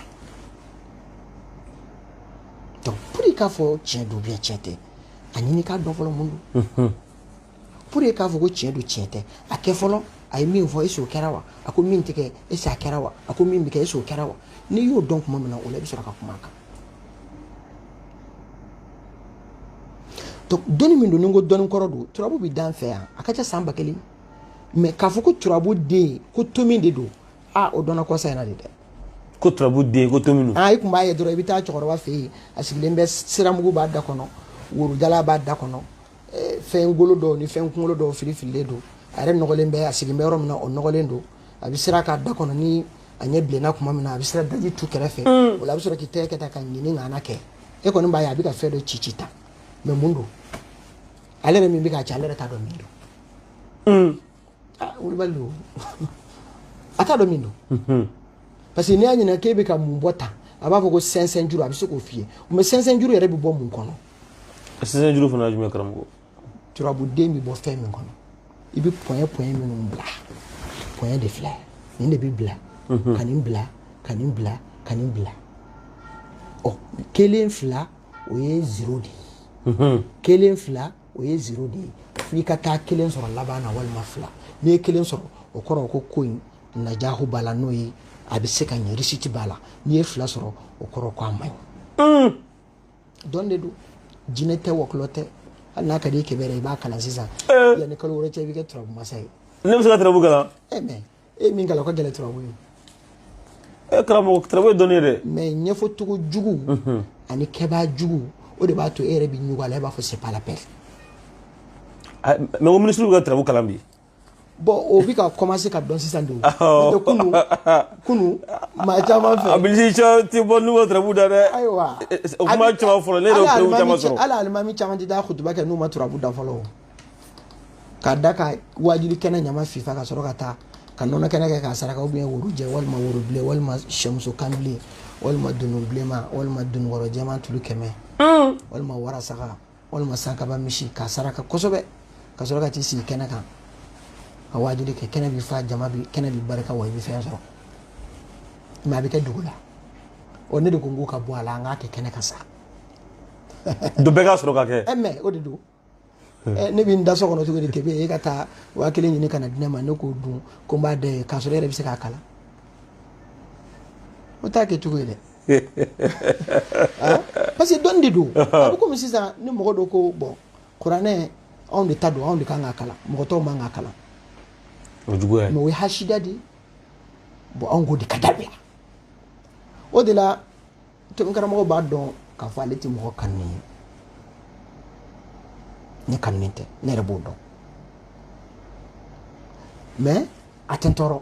Speaker 2: donc pour i k'a fɔ tiɲɛ don ou bien tiɲɛ tɛ a ɲini k'a dɔn fɔlɔ mun don pour i k'a fɔ ko tiɲɛ don tiɲɛ tɛ a kɛ fɔlɔ a ye min fɔ est-ce que o kɛra wa a ko min tɛ kɛ est-ce que a kɛra wa a ko min bɛ kɛ est-ce que o kɛra wa n'i y'o dɔn tuma min na o la i bɛ sɔrɔ ka kuma a kan donc dɔnni min don ni n ko dɔnni kɔrɔ don turabu bɛ d'an fɛ yan a ka ca san ba kelen mɛ k'a fɔ ko turabu den ko tomi de don a o dɔnna kɔsa in na de dɛ ko turabu
Speaker 1: den ko tomi don i tun b'a ye dɔrɔn i bɛ taa
Speaker 2: cɛkɔrɔba fɛ yen a sigilen bɛ siramugu b'a da kɔnɔ worojala b'a da kɔnɔ fɛn golo dɔw ni fɛn kunkolo dɔw fili fililen don a yɛrɛ nɔgɔlen bɛ a sigilen bɛ yɔrɔ min na o nɔgɔlen don a bɛ sira k'a da kɔnɔ ni a ɲɛ bilenna tuma min na a bɛ sira daji tu kɛrɛfɛ mm. o la a bɛ sɔrɔ k'i tɛgɛ kɛ tan ka ɲini ŋana kɛ e kɔni b'a ye a bɛ ka fɛn dɔ ci ci tan mɛ mun don ale yɛrɛ min bɛ k'a ci ale yɛrɛ t'a dɔn min don mm. ah, wulibali don a t'a dɔn min don mm-hmm. parce que n'i y'a ɲininka k'e bɛ ka mun bɔ tan a b'a fɔ ko sɛnsɛn juru a bɛ se k'o f'i ye mɛ sɛnsɛn juru yɛrɛ bɛ bɔ mun kɔnɔ sɛnsɛn
Speaker 1: juru fana jumɛn karamɔgɔ turabu
Speaker 2: den bɛ bɔ fɛn min kɔnɔ i bɛ pɔnyɛ pɔnyɛ minnu bila pɔnyɛ de filɛ nin de bɛ bila mhm. ka nin bila ka nin bila ka nin bila ɔ kelen fila o ye zero de ye mhm. kelen fila o ye zero de ye f'i ka taa kelen sɔrɔ laban na walima fila n'i ye kelen sɔrɔ o kɔrɔ ko ko in najahu b'a la n'o ye a bɛ se ka ɲɛ réussite b'a la n'i ye fila sɔrɔ o kɔrɔ ko a man ɲi. dɔn de don jinɛ tɛ wɔkulɔ tɛ hali n'a ka di i kɛmɛ i b'a kalan sisan eh. yanni kalo wɛrɛ cɛ i bɛ kɛ turabu masa ye ne bɛ se ka turabu kalan
Speaker 1: eh, mɛ e
Speaker 2: ye min kalan o ka gɛlɛn turabu ye
Speaker 1: e karamɔgɔ turabu ye dɔnni ye dɛ mɛ
Speaker 2: ɲɛfɔcogo jugu mhm. ani kɛbaa jugu o de b'a to e yɛrɛ bɛ ɲugu a la i b'a fɔ c'est pas la peine
Speaker 1: mɛ ko minisiriw ka turabu kalan bi bɔn
Speaker 2: o bɛ ka kɔmanse ka dɔn sisan de o n'o tɛ kunu kunu maa caman fɛ abilisiyɔn tɛ bɔ n'u
Speaker 1: ma turabu da dɛ ayiwa o kuma
Speaker 2: caman
Speaker 1: fɔlɔ ne yɛrɛ y'o preuve caman sɔrɔ hali alimami caman tɛ taa
Speaker 2: kutuba kɛ n'u ma turabu da fɔlɔ o k'a da ka waajuli kɛnɛ ɲama fifa ka sɔrɔ ka taa ka nɔnɔ kɛnɛ kɛ k'a saraka ou bien woro jɛ walima woro bilen walima sɛmuso kan bilen walima dunun bilenman walima dununkɔrɔ jɛman tulu kɛmɛ walima warasaga walima sankaba misi k'a saraka kosɛbɛ ka sɔrɔ ka t'i sigi kɛnɛ kan ka waajuli kɛ kɛnɛ bi fa jama bi kɛnɛ bi barika wa i bɛ fɛn sɔrɔ mɛ a bɛ kɛ dogo la ɔ ne de ko n k'o ka bɔ a la an k'a kɛ kɛnɛ kan sa
Speaker 1: dɔ bɛɛ ka sɔrɔ ka kɛ ɛ mɛ o de
Speaker 2: don ɛ ne bɛ n da so kɔnɔ cogo di kebe e ka taa waa kelen ɲini ka na di ne ma ne k'o dun ko n b'a da i ye k'a sɔrɔ e yɛrɛ bɛ se k'a kalan o t'a kɛ cogo ye dɛ ah, parce que dɔnni de don a bɛ komi sisan ni mɔgɔ dɔ ko bɔn kuranɛ anw de ta don anw de kan k'a kalan mɔgɔ tɔw man k'a kalan o
Speaker 1: juguya mɛ o ye hasida de ye
Speaker 2: bɔn anw k'o de ka dabila o de la tomi karamɔgɔ b'a dɔn k'a fɔ ale tɛ mɔgɔ kanu ye ne kanunen tɛ ne yɛrɛ b'o dɔn mɛ a tɛ n tɔɔrɔ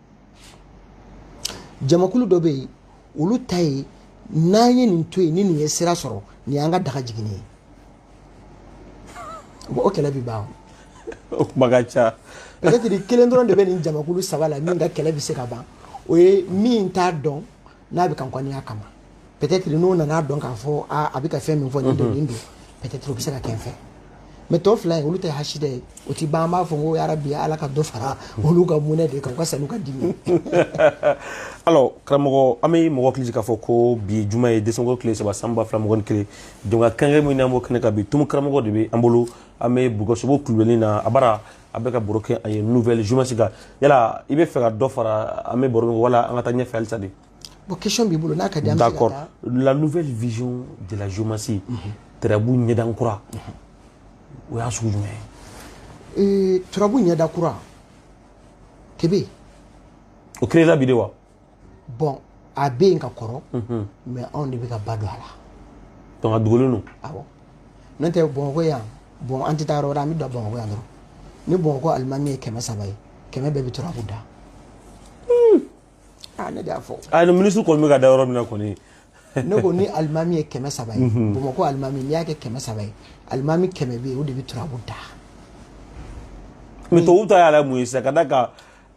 Speaker 2: jamakulu dɔ bɛ yen olu ta ye n'an ye nin to yen ni nin ye sira sɔrɔ nin y'an ka daga jiginni ye o kɛlɛ bɛ ban o kuma ka
Speaker 1: ca peut-être kelen
Speaker 2: dɔrɔn de bɛ nin jamakulu saba la min ka kɛlɛ bɛ se ka ban o ye min t'a dɔn n'a bɛ ka n kɔniya kama peut-être n'o nana dɔn k'a fɔ a bɛ ka fɛn min fɔ nin don nin don peut-être o bɛ se ka kɛ n fɛ mɛ tɔ fila in olu ta ye hasida ye o ti ban an b'a fɔ ko yarabi ala ka dɔ fara olu ka mɔnɛ de kan u ka sa n'u ka
Speaker 1: dimi alors karamɔgɔ an bɛ mɔgɔ hakili jigi k'a fɔ ko bi juma ye desanko tile saba san ba fila mugan ni kelen donc a kɛnɛ min n'an b'o kɛnɛ kan bi tumu karamɔgɔ de bɛ an bolo an bɛ bugɔsogo kulubali na a bara a bɛ ka baro kɛ a ye nouvelle géomancie kan yala i bɛ fɛ ka dɔ fara an bɛ baro min wala an ka taa ɲɛfɛ halisa de bon question b'i
Speaker 2: bolo n'a ka di an bɛ se ka taa d'accord la nouvelle
Speaker 1: vision de la géomancie turabu ɲɛda kura o y'a sugu jumɛn ye
Speaker 2: Ee, turabu ɲɛda kura kebe
Speaker 1: o créera bi de wa
Speaker 2: bɔn a bɛ yen ka kɔrɔ mɛ anw de bɛ ka ba don a la donc
Speaker 1: a dogolen don
Speaker 2: awɔ n'o tɛ bamakɔ yan bɔn an tɛ taa yɔrɔ wɛrɛ an bɛ dan bamakɔ yan dɔrɔn ni bamakɔ alimami ye kɛmɛ saba ye kɛmɛ bɛɛ bɛ turabu da hmm. ah, ne de y'a fɔ a ah, ni minisiri kɔni bɛ ka
Speaker 1: da yɔrɔ min na kɔni ne ko
Speaker 2: ni alimami ye kɛmɛ saba ye mhm. bamakɔ alimami n'i y'a kɛ kɛmɛ saba ye alimami kɛmɛ bɛ yen o de bɛ turabu da mɛ
Speaker 1: tubabu ta y'a la mun ye sisan ka da ka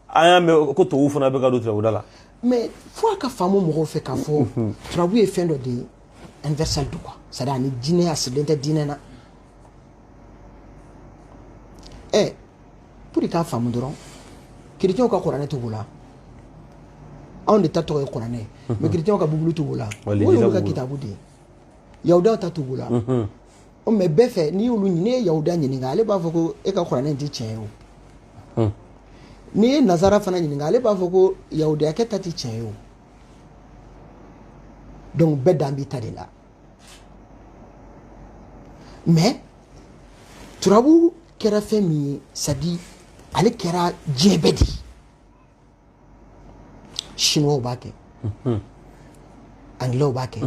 Speaker 1: an y'a mɛn ko tubabuw fana bɛ ka don turabuda la mais fo
Speaker 2: a ka faamu mɔgɔw fɛ k'a fɔ turabu ye fɛn dɔ de ye universel don quoi c'est à dire ani diinɛ a sigilen tɛ diinɛ na ɛ pour k'a faamu dɔrɔn kiritiyɛnw ka kuranɛ t'u bolo anw de ta tɔgɔ ye kuranɛ ye mais kiritiyɛnw ka bibulu t'u bolo o y'olu ka kitabu de ye yahudaw ta t'u bolo o mais bɛɛ fɛ n'i y'olu ɲini n'i ye yahuda ɲininka ale b'a fɔ ko e ka kuranɛ tɛ tiɲɛ ye o hmm. n'i ye nazara fana ɲininka ale b'a fɔ ko yahudiyakɛ ta tɛ tiɲɛ ye o donc bɛɛ dan b'i ta de la mais turabu kɛra fɛn min ye c'est à dire ale kɛra diɲɛ bɛɛ de ye chinois b'a kɛ anglais b'a kɛ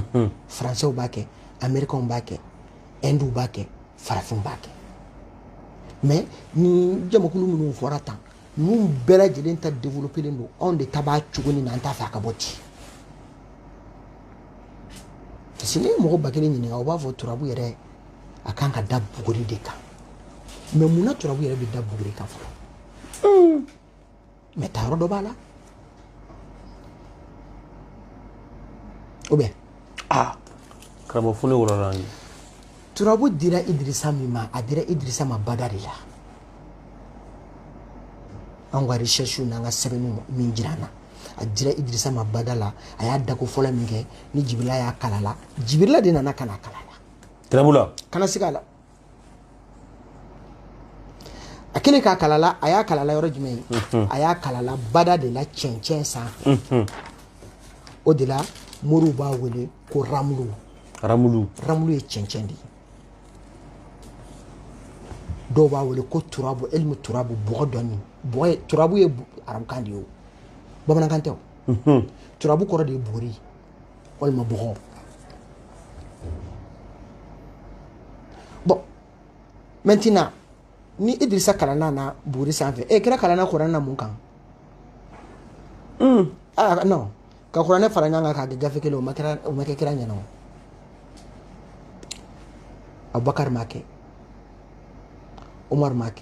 Speaker 2: français b'a kɛ américain b'a kɛ hindu b'a kɛ farafin b'a kɛ mais ni jamakulu minnu fɔra tan ninnu bɛɛ lajɛlen ta développelen don anw de ta b'a cogo nin na an t'a fɛ a ka bɔ ten parce que n'i ye mɔgɔ ba kelen ɲininka o b'a fɔ turabu yɛrɛ a kan ka da buguri de kan mais mun na turabu yɛrɛ bɛ da buguri kan fɔlɔ mais ta yɔrɔ dɔ b'a la ou bien
Speaker 1: aa karamɔgɔ fo ne wɔlɔla ye turabu
Speaker 2: dira idirisa min ma a dira idirisa ma bada de la an ka recherche n'an ka sɛbɛnniw min jira an na a dira idirisa ma bada la a y'a dako fɔlɔ min kɛ ni jibirila y'a kalan a la jibirila de nana ka n'a kalan a la tɛrɛbula
Speaker 1: kana siga a la
Speaker 2: a kɛlen k'a kalan a la a y'a kalan a la yɔrɔ jumɛn ye a y'a kalan a la bada de la cɛncɛn sanfɛ o de la moriw b'a wele ko ramulu ramulu ramulu ye cɛncɛn de ye dɔw b'a wele ko turabu ilmu turabu bɔgɔ dɔnni bɔgɔ ye turabu ye arabukan de ye o bamanankan tɛ o turabu kɔrɔ de ye buguri walima bɔgɔ bon maintenant ni idirisa kalanna na buguri sanfɛ e kira kalanna kuranɛ na mun kan mm. ah, non ka kuranɛ fara ɲɔgɔn kan k'a kɛ gafe kelen o ma kɛ kira ɲɛna o abubakar m'a kɛ umar m'a kɛ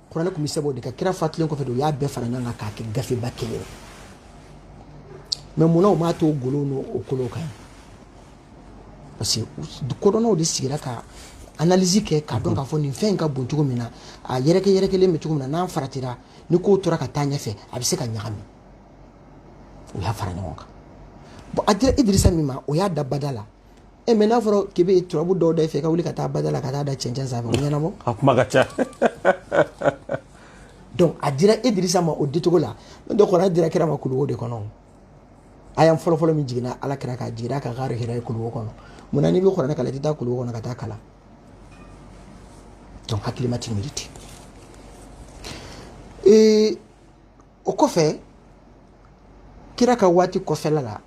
Speaker 2: kuranɛ tun bɛ sɛbɛn o de kan kira fatulen kɔfɛ de u y'a bɛɛ fara ɲɔgɔn kan k'a kɛ gafeba kelen ye mais munna u m'a to o golow n'o kolow kan parce que kodɔnnaw de sigira ka analyse kɛ k'a dɔn k'a fɔ nin fɛn in ka bon cogo min na a yɛrɛkɛ yɛrɛkɛlen bɛ cogo min na n'an faratira ni kow tora ka taa ɲɛfɛ a bɛ se ka ɲagami u y'a fara ɲɔgɔn kan bon a dira idirisa min ma o y'a da bada la e mɛ n'a fɔra k'i bɛ turabu dɔw da f'i ka wuli ka taa bada la ka taa da cɛncɛn sanfɛ o ɲɛnabɔ a kuma ka ca donc a dira Idrissa ma o dicogo la n'o tɛ kuranɛ dira kira ma kuluwo de kɔnɔ aya fɔlɔfɔlɔ min jiginna ala kira kan a jigira a kan Gari Hira ye kuluwo kɔnɔ mun na n'i bɛ kuranɛ kalan i tɛ taa kuluwo kɔnɔ ka taa kalan donc hakilima tɛ miiri ten ee o kɔfɛ kira ka waati kɔfɛla la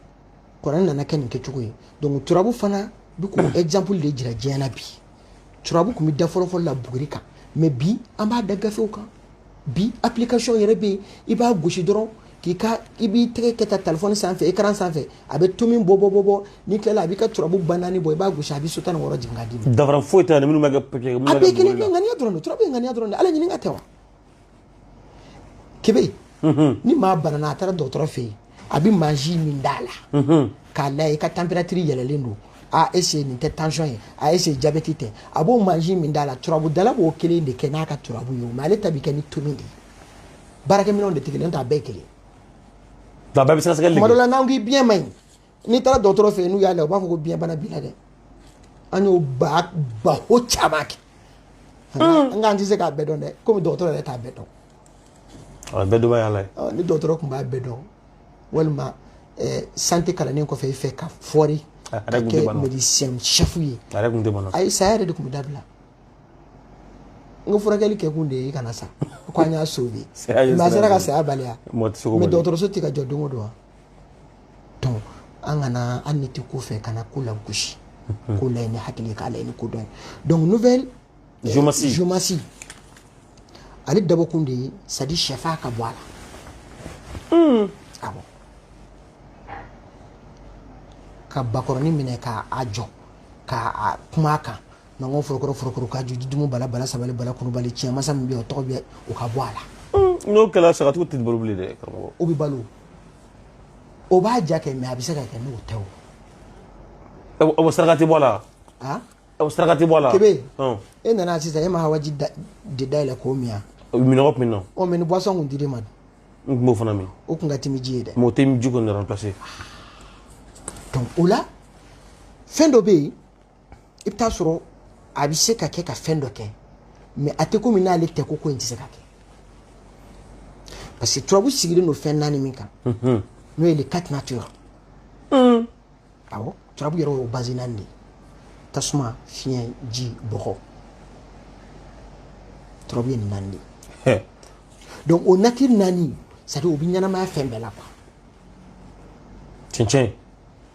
Speaker 2: kuranɛ nana kɛ nin kɛcogo ye donc turabu fana bɛ k'o hmm. exemple de jira diɲɛ na bi turabu tun bɛ da fɔlɔfɔlɔ la buguri kan mais bi an b'a da gafew kan bi application yɛrɛ bɛ yen i b'a gosi dɔrɔn k'i ka i b'i tɛgɛ kɛ tan telefɔni sanfɛ ekaran sanfɛ a bɛ tomi bɔ bɔ bɔ bɔ n'i tilala a b'i ka turabu ba naani bɔ i b'a gosi a bɛ so tan ni wɔɔrɔ jigin k'a d'i ma. danfara foyi t'a la minnu bɛ kɛ.
Speaker 1: a bɛɛ kelen bɛɛ ŋaniya
Speaker 2: dɔrɔn de turabu ye ŋaniya dɔrɔn de ala ɲininka tɛ wa. kebe mhm. ni maa banana a taara dɔgɔtɔrɔ fɛ yen a bɛ mansin min d'a la mhm. k'a layɛ i ka tanperatiri yɛlɛlen don a est-ce nin tɛ tansiyɔn ye a est-ce jabɛti tɛ a b'o mansin min d'a la turabudala b'o kelen de kɛ n'a ka turabu ye o mɛ ale ta bɛ kɛ ni tomi de ye baarakɛminɛnw de tɛ kelen n'o t'a bɛɛ kelen
Speaker 1: tuma dɔ la n'an k'i biɲɛ man
Speaker 2: ɲi n'i taara dɔgɔtɔrɔ fɛ yen n'u y'a lajɛ u b'a fɔ ko biyɛnbana b'i la dɛ an y'o ba baro caman kɛ an k'an tɛ se k'a bɛɛ dɔn dɛ komi dɔgɔtɔrɔ yɛrɛ t'a bɛɛ dɔn a
Speaker 1: bɛɛ dɔnbaa y'ala ni dɔgɔtɔrɔ tun b'a bɛɛ
Speaker 2: dɔn walima santé kalannen kɔfɛ i fɛ ka fɔri ka kɛ médecin chef ye ayi saya yɛrɛ de tun bɛ dabila n ko furakɛli kɛ kun de ye i kana sa ko an y'a sauvé mɛ a sera ka saya bali wa mɛ dɔgɔtɔrɔso tɛ ka jɔ don o don wa donc an kana hali n'i tɛ ko fɛ kana ko lagosi mhm. ko lajɛ ni hakili ye k'a lajɛ ni kodɔn ye donc nouvelle euh, géomancie géomancie ale dabɔkun de ye c'est à dire sɛfaa ka bɔ a la hmm. awɔ ka bakɔrɔni minɛ ka a jɔ ka kuma a kan Nango Forokɔrɔ Forokɔrɔ ka Jitumu Bala Bala sabali Bala kunubali tiɲɛ masa min bɛ yen o tɔgɔ bɛɛ o ka bɔ a la hmm. n'o kɛra sagatigiw tɛ
Speaker 1: balo bilen dɛ karamɔgɔ o bɛ balo
Speaker 2: o b'a ja kɛ mɛ a bɛ se ka kɛ n'o tɛ o o saraka tɛ bɔ
Speaker 1: a la wa o saraka tɛ bɔ a la kebe e nana
Speaker 2: sisan e ma awa ji de dayɛlɛ k'o min yan minnɔgɔ tun bɛ n na ɔ mɛ
Speaker 1: ni boisson tun
Speaker 2: dir'e ma dun n tun b'o
Speaker 1: fana min o tun ka timi ji ye
Speaker 2: dɛ mɛ o tɛ ji kɔni remplacer donc o la fɛn dɔ bɛ yen i bɛ t'a sɔrɔ a bɛ se ka kɛ ka fɛn dɔ kɛ mɛ a tɛ komi n'ale tɛ ko ko in tɛ se ka kɛ parce que turabu sigilen don fɛn naani min kan n'o ye les quatre natures awɔ turabu yɛrɛ y'o base naani de ye tasuma fiɲɛ ji bɔgɔ turabu ye nin naani de ye donc o nature naani c'est à dire o bɛ ɲɛnamaya fɛn bɛɛ la quoi cɛncɛn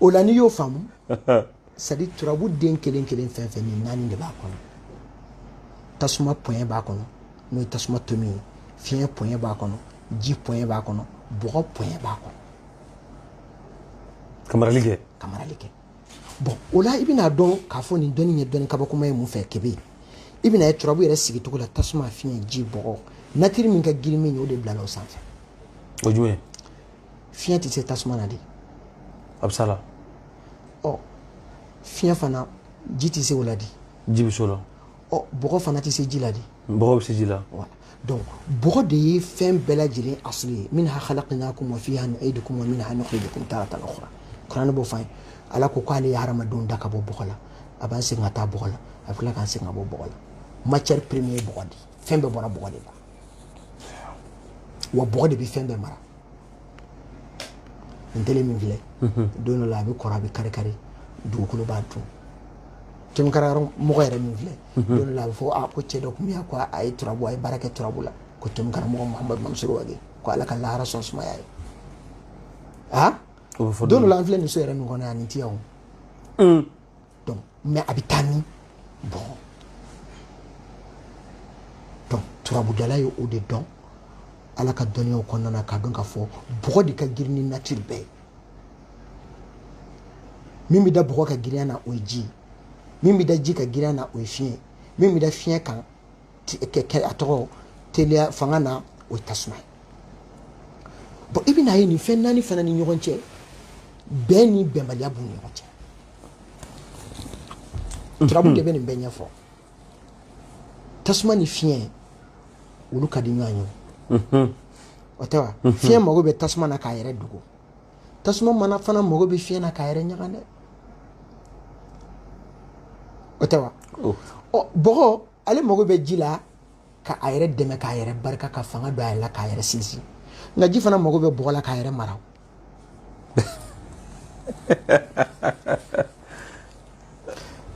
Speaker 2: o la n'i y'o faamu c'est à dire turabu den kelen kelen fɛn fɛn nin naani de b'a kɔnɔ tasuma pɔɲɛ b'a kɔnɔ n'o ye tasuma tomi ye fiɲɛ pɔɲɛ b'a kɔnɔ ji pɔɲɛ b'a kɔnɔ bɔgɔ pɔɲɛ b'a kɔnɔ
Speaker 1: ka marali kɛ
Speaker 2: bon o la i bɛna dɔn k'a fɔ nin dɔnni ye dɔnni kabakoma ye mun fɛ kebe i bɛna ye turabu yɛrɛ sigicogo la tasuma fiɲɛ ji bɔgɔ natiri min ka girin min ye o de bilala o sanfɛ o jumɛn
Speaker 1: fiɲɛ
Speaker 2: tɛ se tasuma na de a
Speaker 1: bɛ s'a la
Speaker 2: ɔ fiɲɛ fana ji tɛ se o la de ji bɛ se o la
Speaker 1: ɔ bɔgɔ fana
Speaker 2: tɛ se ji la de bɔgɔ bɛ se ji la donc bɔgɔ de ye fɛn bɛɛ lajɛlen asili ye minha khalaqnakum wa fiha nu'idukum wa minha nukhrijukum taratan ukhra kuranɛ b'o fɔ an ye ala ko k'ale ye hadamadenw da ka bɔ bɔgɔ la a b'an segin ka taa bɔgɔ la a bɛ tila k'an segin ka bɔ bɔgɔ la matière première ye bɔgɔ de ye fɛn bɛɛ bɔra bɔgɔ de la wa bɔgɔ de bɛ fɛn bɛɛ mara nin tele min filɛ don dɔ la a bɛ kɔrɔ a bɛ kari kari dugukolo b'a dun tɛmɛ karamɔgɔ yɛrɛ min filɛ don dɔ la a bɛ fɔ a ko cɛ dɔ tun bɛ yan ko a ye turabu a ye baara kɛ turabu la ko tɛmɛ karamɔgɔ mahamadu mamusoro wage ko ala ka lahara sɔn sumaya ye aa don dɔ la an filɛ nin so yɛrɛ min kɔnɔ yan nin tɛ yan donc mais a bɛ taa min bɔgɔ donc turabudala ye o de dɔn ala ka dɔnniyaw kɔnɔna na k'a dɔn k'a fɔ bɔgɔ de ka girin ni natiri bɛɛ ye min bɛ da bɔgɔ ka girinya na o ye ji ye min bɛ da ji ka girinya na o ye fiɲɛ min bɛ da fiɲɛ kan a tɔgɔ teliya fanga na o ye tasuma ye bon i bɛna ye nin fɛn naani fana ni ɲɔgɔn cɛ bɛn ni bɛnbaliya b'u ni ɲɔgɔn cɛ turabu de bɛ nin bɛɛ ɲɛfɔ tasuma ni fiɲɛ olu ka di ɲɔgɔn ye mhm. o tɛ wa mhm. fiɲɛ mago bɛ tasuma na k'a yɛrɛ dogo tasuma mana fana mago bɛ fiɲɛ na k'a yɛrɛ ɲaga dɛ o tɛ wa oh. ɔ bɔgɔ ale mago bɛ ji la ka a yɛrɛ dɛmɛ k'a yɛrɛ barika ka fanga don a yɛrɛ la k'a yɛrɛ sinsin nka ji fana mago bɛ bɔgɔ la k'a yɛrɛ mara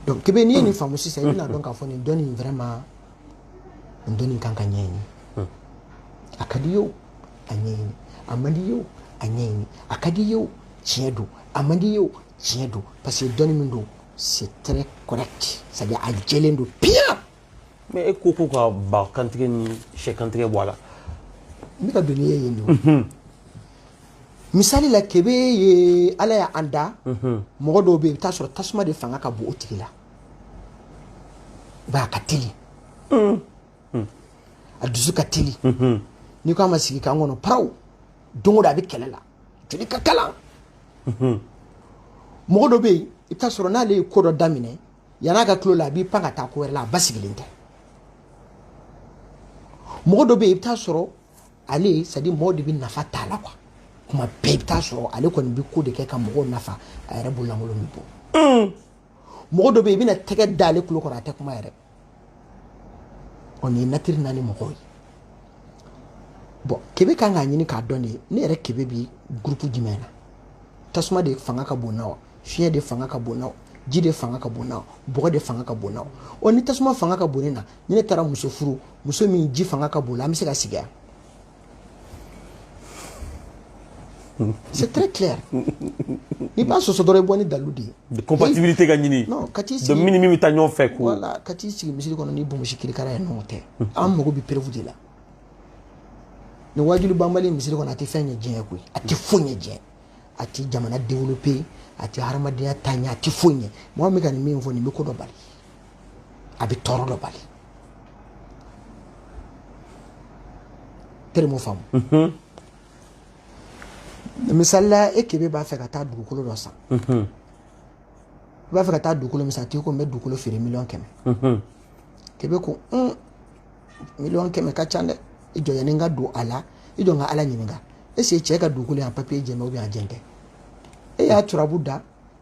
Speaker 2: donc kebe n'i ye nin faamu sisan i bɛna dɔn k'a fɔ nin dɔnni in vraiment nin dɔnni kan ka ɲɛɲini a ka di ye o a ɲɛɲini a man di ye o a ɲɛɲini a ka di ye o tiɲɛ don a man di ye o tiɲɛ don parce que dɔnni min don c'est très correct c'est à dire a jɛlen don piyan mais
Speaker 1: e ko ko ka ba kantigɛ ni sɛ kantigɛ bɔ a la n bɛ
Speaker 2: ka don n'i ye yen don misali la kebe ye ala y'an da mɔgɔ dɔw bɛ yen i bɛ t'a sɔrɔ tasuma de fanga ka bon o tigi la ba ka teli a dusu ka teli n'i ko a ma sigi k'an kɔnɔ paraw don o don a bɛ kɛlɛ la joli ka kalan mɔgɔ dɔ bɛ yen i bɛ t'a sɔrɔ n'ale ye ko dɔ daminɛ yan'a ka til'o la a b'i pan ka taa ko wɛrɛ la a basigilen tɛ mɔgɔ dɔ bɛ yen i bɛ taa sɔrɔ ale c'est à dire mɔgɔw de bɛ nafa t'a la quoi kuma bɛɛ i bɛ taa sɔrɔ ale kɔni bɛ ko de kɛ ka mɔgɔw nafa a yɛrɛ bololankolon bɛ bɔ hmm. mɔgɔ dɔ bɛ yen i bɛna tɛgɛ da ale tulo kɔrɔ a tɛ kuma yɛrɛ ɔ nin ye natiri naani mɔgɔw ye bon kebe kan k'a ɲini k'a dɔn de ne yɛrɛ kebe bi gurupu jumɛn na tasuma de fanga ka bon n na wa fiɲɛ de fanga ka bon n na wa ji de fanga ka bon n na wa bɔgɔ de fanga ka bon n na wa ɔ ni tasuma fanga ka bon ne na ni ne taara muso furu muso min ji fanga ka bon a la an bɛ se ka sigi yan c'est très clair n'i b'a sɔsɔ dɔrɔn i bɔ ni dalu de ye compatibilité ka ɲini
Speaker 1: non ka t'i sigi donc min ni
Speaker 2: min bɛ taa ɲɔgɔn fɛ
Speaker 1: ko voilà ka t'i sigi
Speaker 2: misiri kɔnɔ ni bonbonsi kirikara ye nɔgɔ tɛ an mago bɛ preuve de la nin waajuli banbali misiri kɔnɔ a tɛ fɛn ɲɛ diɲɛ koyi a tɛ foyi ɲɛ diɲɛ a ti jamana développer a ti hadamadenya taa ɲɛ a ti foyi ɲɛ mɔgɔ min ka nin min fɔ nin bɛ ko dɔ bali a bɛ tɔɔrɔ dɔ bali terme faamu mhm. misali la e kebe b'a fɛ ka taa dugukolo dɔ san mhm. i b'a fɛ ka taa dugukolo min san tigi ko n bɛ dugukolo feere miliyɔn kɛmɛ mhm. kebe ko un miliyɔn kɛmɛ ka ca dɛ i jɔ yani n ka don a la i jɔ n ka ala ɲininka est-ce que cɛ ka dugukolo yan papiye jɛlen bɛ ou bien a jɛlen tɛ e y'a turabu da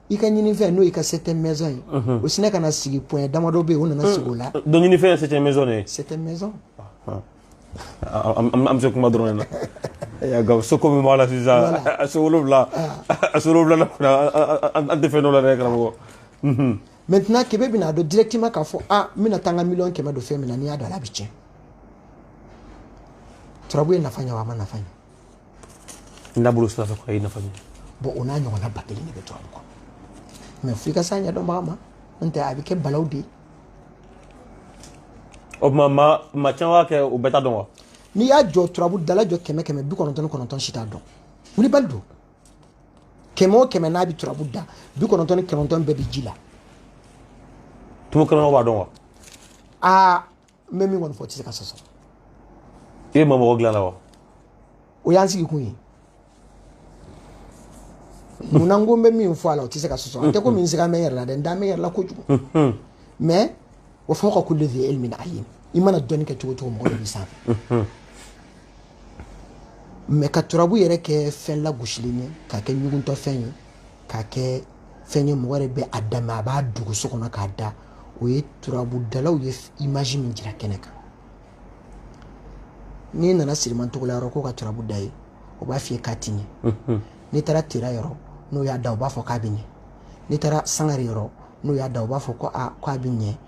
Speaker 2: i ka ɲinifɛn n'o y'i ka septième maison ye o sinɛ ka na sigi point damadɔ bɛ yen o nana sigi o la donc ɲinifɛn ye septième
Speaker 1: maison de ye septième maison an bɛ se kuma dɔrɔn de la nka so ko min b'a la sisan a so wolonwula a so wolonwula an tɛ fɛn dɔn o la dɛ karamɔgɔ maintenant
Speaker 2: kebe bɛna a dɔn directement k'a fɔ a n bɛna taa n ka miliyɔn kɛmɛ don fɛn min na n'i y'a don a la a bɛ tiɲɛ turabu ye nafa ɲɛ wa a ma nafa ɲɛ n da bolo sira fɛ ko
Speaker 1: a ye nafa ɲɛ bon o n'a ɲɔgɔnna
Speaker 2: ba kelen de bɛ turabu kɔnɔ mais f'i ka s'a ɲɛdɔnbaga ma n'o tɛ a bɛ kɛ balawu de
Speaker 1: ye o tuma maa caman b'a kɛ o bɛɛ t'a dɔn wa n'i y'a jɔ
Speaker 2: turabu dala jɔ kɛmɛ kɛmɛ bi kɔnɔntɔn ni kɔnɔntɔn si t'a dɔn wulibali don kɛmɛ o kɛmɛ n'a bɛ turabu da bi kɔnɔntɔn ni kɔnɔntɔn bɛɛ bɛ ji
Speaker 1: la tumu kebe b'a dɔn wa aa
Speaker 2: n bɛ min kɔni fɔ o tɛ se ka sɔsɔ
Speaker 1: i ye mɔgɔ dilan la wa o y'an
Speaker 2: sigi kun ye munna n ko n bɛ min fɔ a la o tɛ se ka sɔsɔ a tɛ komi n sigalen bɛ n yɛrɛ la dɛ n dalen bɛ n yɛrɛ la kojugu mɛ wa fawqa kulli dhi ilmin alim i mana dɔnni kɛ cogo cogo mɔgɔ dɔ b'i sanfɛ mɛ ka turabu yɛrɛ kɛ fɛn lagosilen ye k'a kɛ ɲuguntɔfɛn ye k'a kɛ fɛn ye mɔgɔ yɛrɛ bɛ a dama a b'a dogo so kɔnɔ k'a da o ye turabudalaw ye imaji min jira kɛnɛ kan n'i nana siriman togola yɔrɔ k'o ka turabu da i ye o b'a f'i ye k'a ti ɲɛ n'i taara tera yɔrɔ n'o y'a da o b'a fɔ k'a bɛ ɲɛ n'i taara sangare yɔrɔ n'o y'a da o b'a fɔ ko a k'a bɛ ɲɛ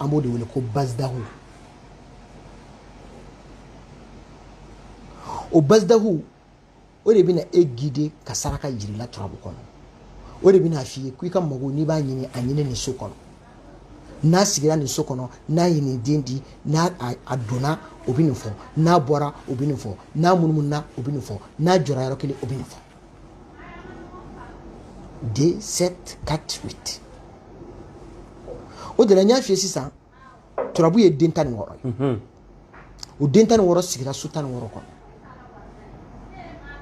Speaker 1: an b'o de
Speaker 2: wele ko bazidahu o bazidahu o de bɛna e gide ka saraka jira i la turabu kɔnɔ o de bɛna f'i ye ko i ka mago n'i b'a ɲini a ɲini nin so kɔnɔ n'a sigira nin so kɔnɔ n'a ye nin den di n'a a donna o bɛ nin fɔ n'a bɔra o bɛ nin fɔ n'a munumununa o bɛ nin fɔ n'a jɔra yɔrɔ kelen o bɛ nin fɔ 2 7 4 8 o de la n y'a f'i ye sisan turabu ye den tan ni wɔɔrɔ ye mhm. o den tan ni wɔɔrɔ sigira so tan ni wɔɔrɔ kɔnɔ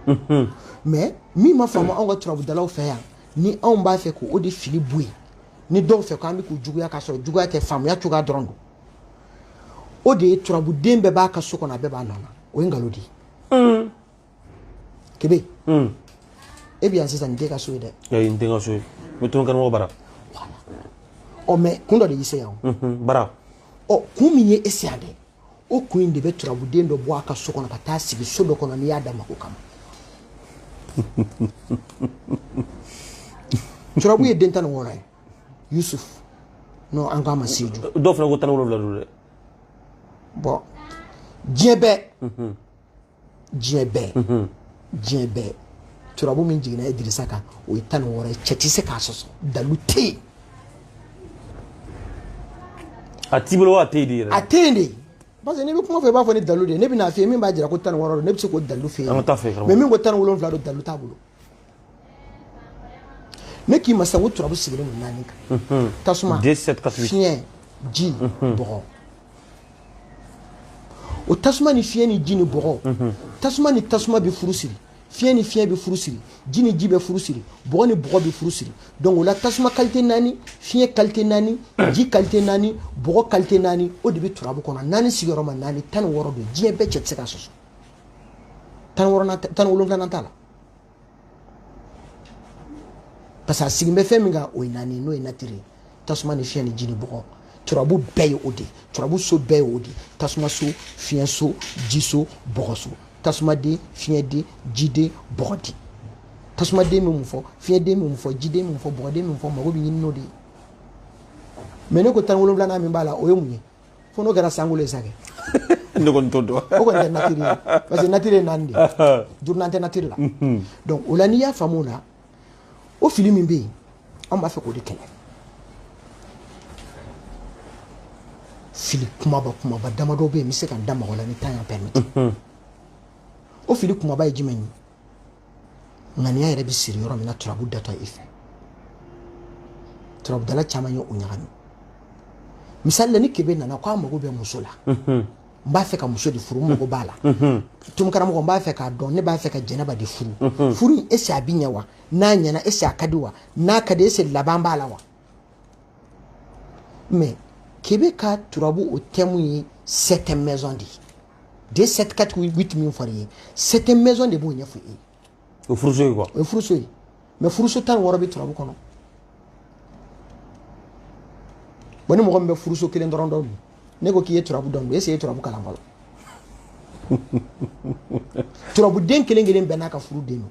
Speaker 2: mhm. mɛ min ma faamu anw ka turabudalaw fɛ yan ni anw b'a fɛ k'o de fili bɔ yen ni dɔw fɛ k'an bɛ k'u juguya k'a sɔrɔ juguya tɛ faamuya cogoya dɔrɔn don o de ye turabuden bɛɛ b'a ka so kɔnɔ a bɛɛ b'a nɔ na o ye nkalon de ye mm. kebe hmm. e bɛ yan sisan nin t'e ka so ye dɛ ee n tɛ n ka so
Speaker 1: ye n bɛ to n karamɔgɔ
Speaker 2: bara ɔ mɛ kun dɔ de y'i se yan o b'a la ɔ
Speaker 1: kun min
Speaker 2: ye e se yan dɛ o kun in de bɛ turabuden dɔ bɔ a ka so kɔnɔ ka taa sigi so dɔ kɔnɔ n'i y'a da mako kama turabu ye den tan ni wɔɔrɔ ye yusuf n'o an k'a ma seju dɔw fana ko tan ni wolonwula don
Speaker 1: dɛ
Speaker 2: bɔn diɲɛ bɛɛ diɲɛ bɛɛ mhm. diɲɛ bɛɛ turabu min jiginna idirisa kan o ye tan ni wɔɔrɔ ye cɛ tɛ se k'a sɔsɔ dalu tɛ yen
Speaker 1: a t'i bolo a tɛ yen de yɛrɛ a tɛ yen
Speaker 2: de parce que n'i bɛ kuma fɔ i b'a fɔ ni dalu de ye ne bɛna f'i ye min b'a jira ko tan ni wɔɔrɔ don ne bɛ se k'o dalu f'i ye mɛ min ko tan
Speaker 1: ni wolonwula don
Speaker 2: dalu t'a bolo ne k'i ma sisan ko turabu sigilen don naani kan tasuma fiɲɛ ji bɔgɔ o tasuma ni fiɲɛ ni ji ni bɔgɔ tasuma ni tasuma bɛ furu siri fiɲɛ ni fiɲɛ bɛ furu siri ji ni ji bɛ furu siri bɔgɔ ni bɔgɔ bɛ furu siri donc o la tasuma kalite naani fiɲɛ kalite naani ji kalite naani bɔgɔ kalite naani o de bɛ turabu kɔnɔ naani sigiyɔrɔma naani tan ni wɔɔrɔ don diɲɛ bɛɛ cɛ tɛ se k'a sɔsɔ tan ni wɔɔrɔnan tan ni wolonwulanan t'a la parce que a sigin bɛ fɛn min kan o ye naani n'o ye natiri ye tasuma ni fiɲɛ ni ji ni bɔgɔ turabu bɛɛ ye o de ye turabu so bɛɛ ye o de ye tasuma so fiɲɛ so ji so bɔgɔ so tasumaden fiɲɛden jiden bɔgɔden tasumaden bɛ mun fɔ fiɲɛden bɛ mun fɔ jiden bɛ mun fɔ bɔgɔden bɛ mun fɔ mago bɛ ɲini n'o de ye mais ne ko tan wolonwulanan min b'a la o ye mun ye fo n'o kɛra sankolo ye sa kɛ ne kɔni
Speaker 1: t'o dɔn o kɔni tɛ natiri
Speaker 2: ye parce que natiri ye naani de ye duurunan tɛ natiri la donc o la n'i y'a faamu o la o fili min bɛ yen an b'a fɛ k'o de kɛlɛ fili kumaba kumaba damadɔ bɛ yen n bɛ se ka n da maga o la ni temps y'a permettre o fili kumaba ye jumɛn ye ŋaniya yɛrɛ bɛ siri yɔrɔ min na turabu datɔ i fɛ turabudala caman ye o ɲagami misali la ni kebe nana ko a mago bɛ muso la n b'a fɛ ka muso de furu n mago b'a la donc karamɔgɔ n b'a fɛ k'a dɔn ne b'a fɛ ka jɛnɛba de furu furu in est ce a bi ɲɛ wa n'a ɲɛna est ce a ka di wa n'a ka di est ce laban b'a la wa mais kebe ka turabu o thème ye septième maison de ye de sept quatre huit min fɔra i ye septième maison de b'o ɲɛfɔ e ye o furuso ye
Speaker 1: quoi o ye furuso ye
Speaker 2: mais furuso tan wɔɔrɔ bɛ turabu kɔnɔ bon ni mɔgɔ min bɛ furuso kelen dɔrɔn dɔn dun ne ko k'i ye turabu dɔn dun est ce que i ye turabu kalan fɔlɔ turabuden kelen kelen bɛɛ n'a ka furu den don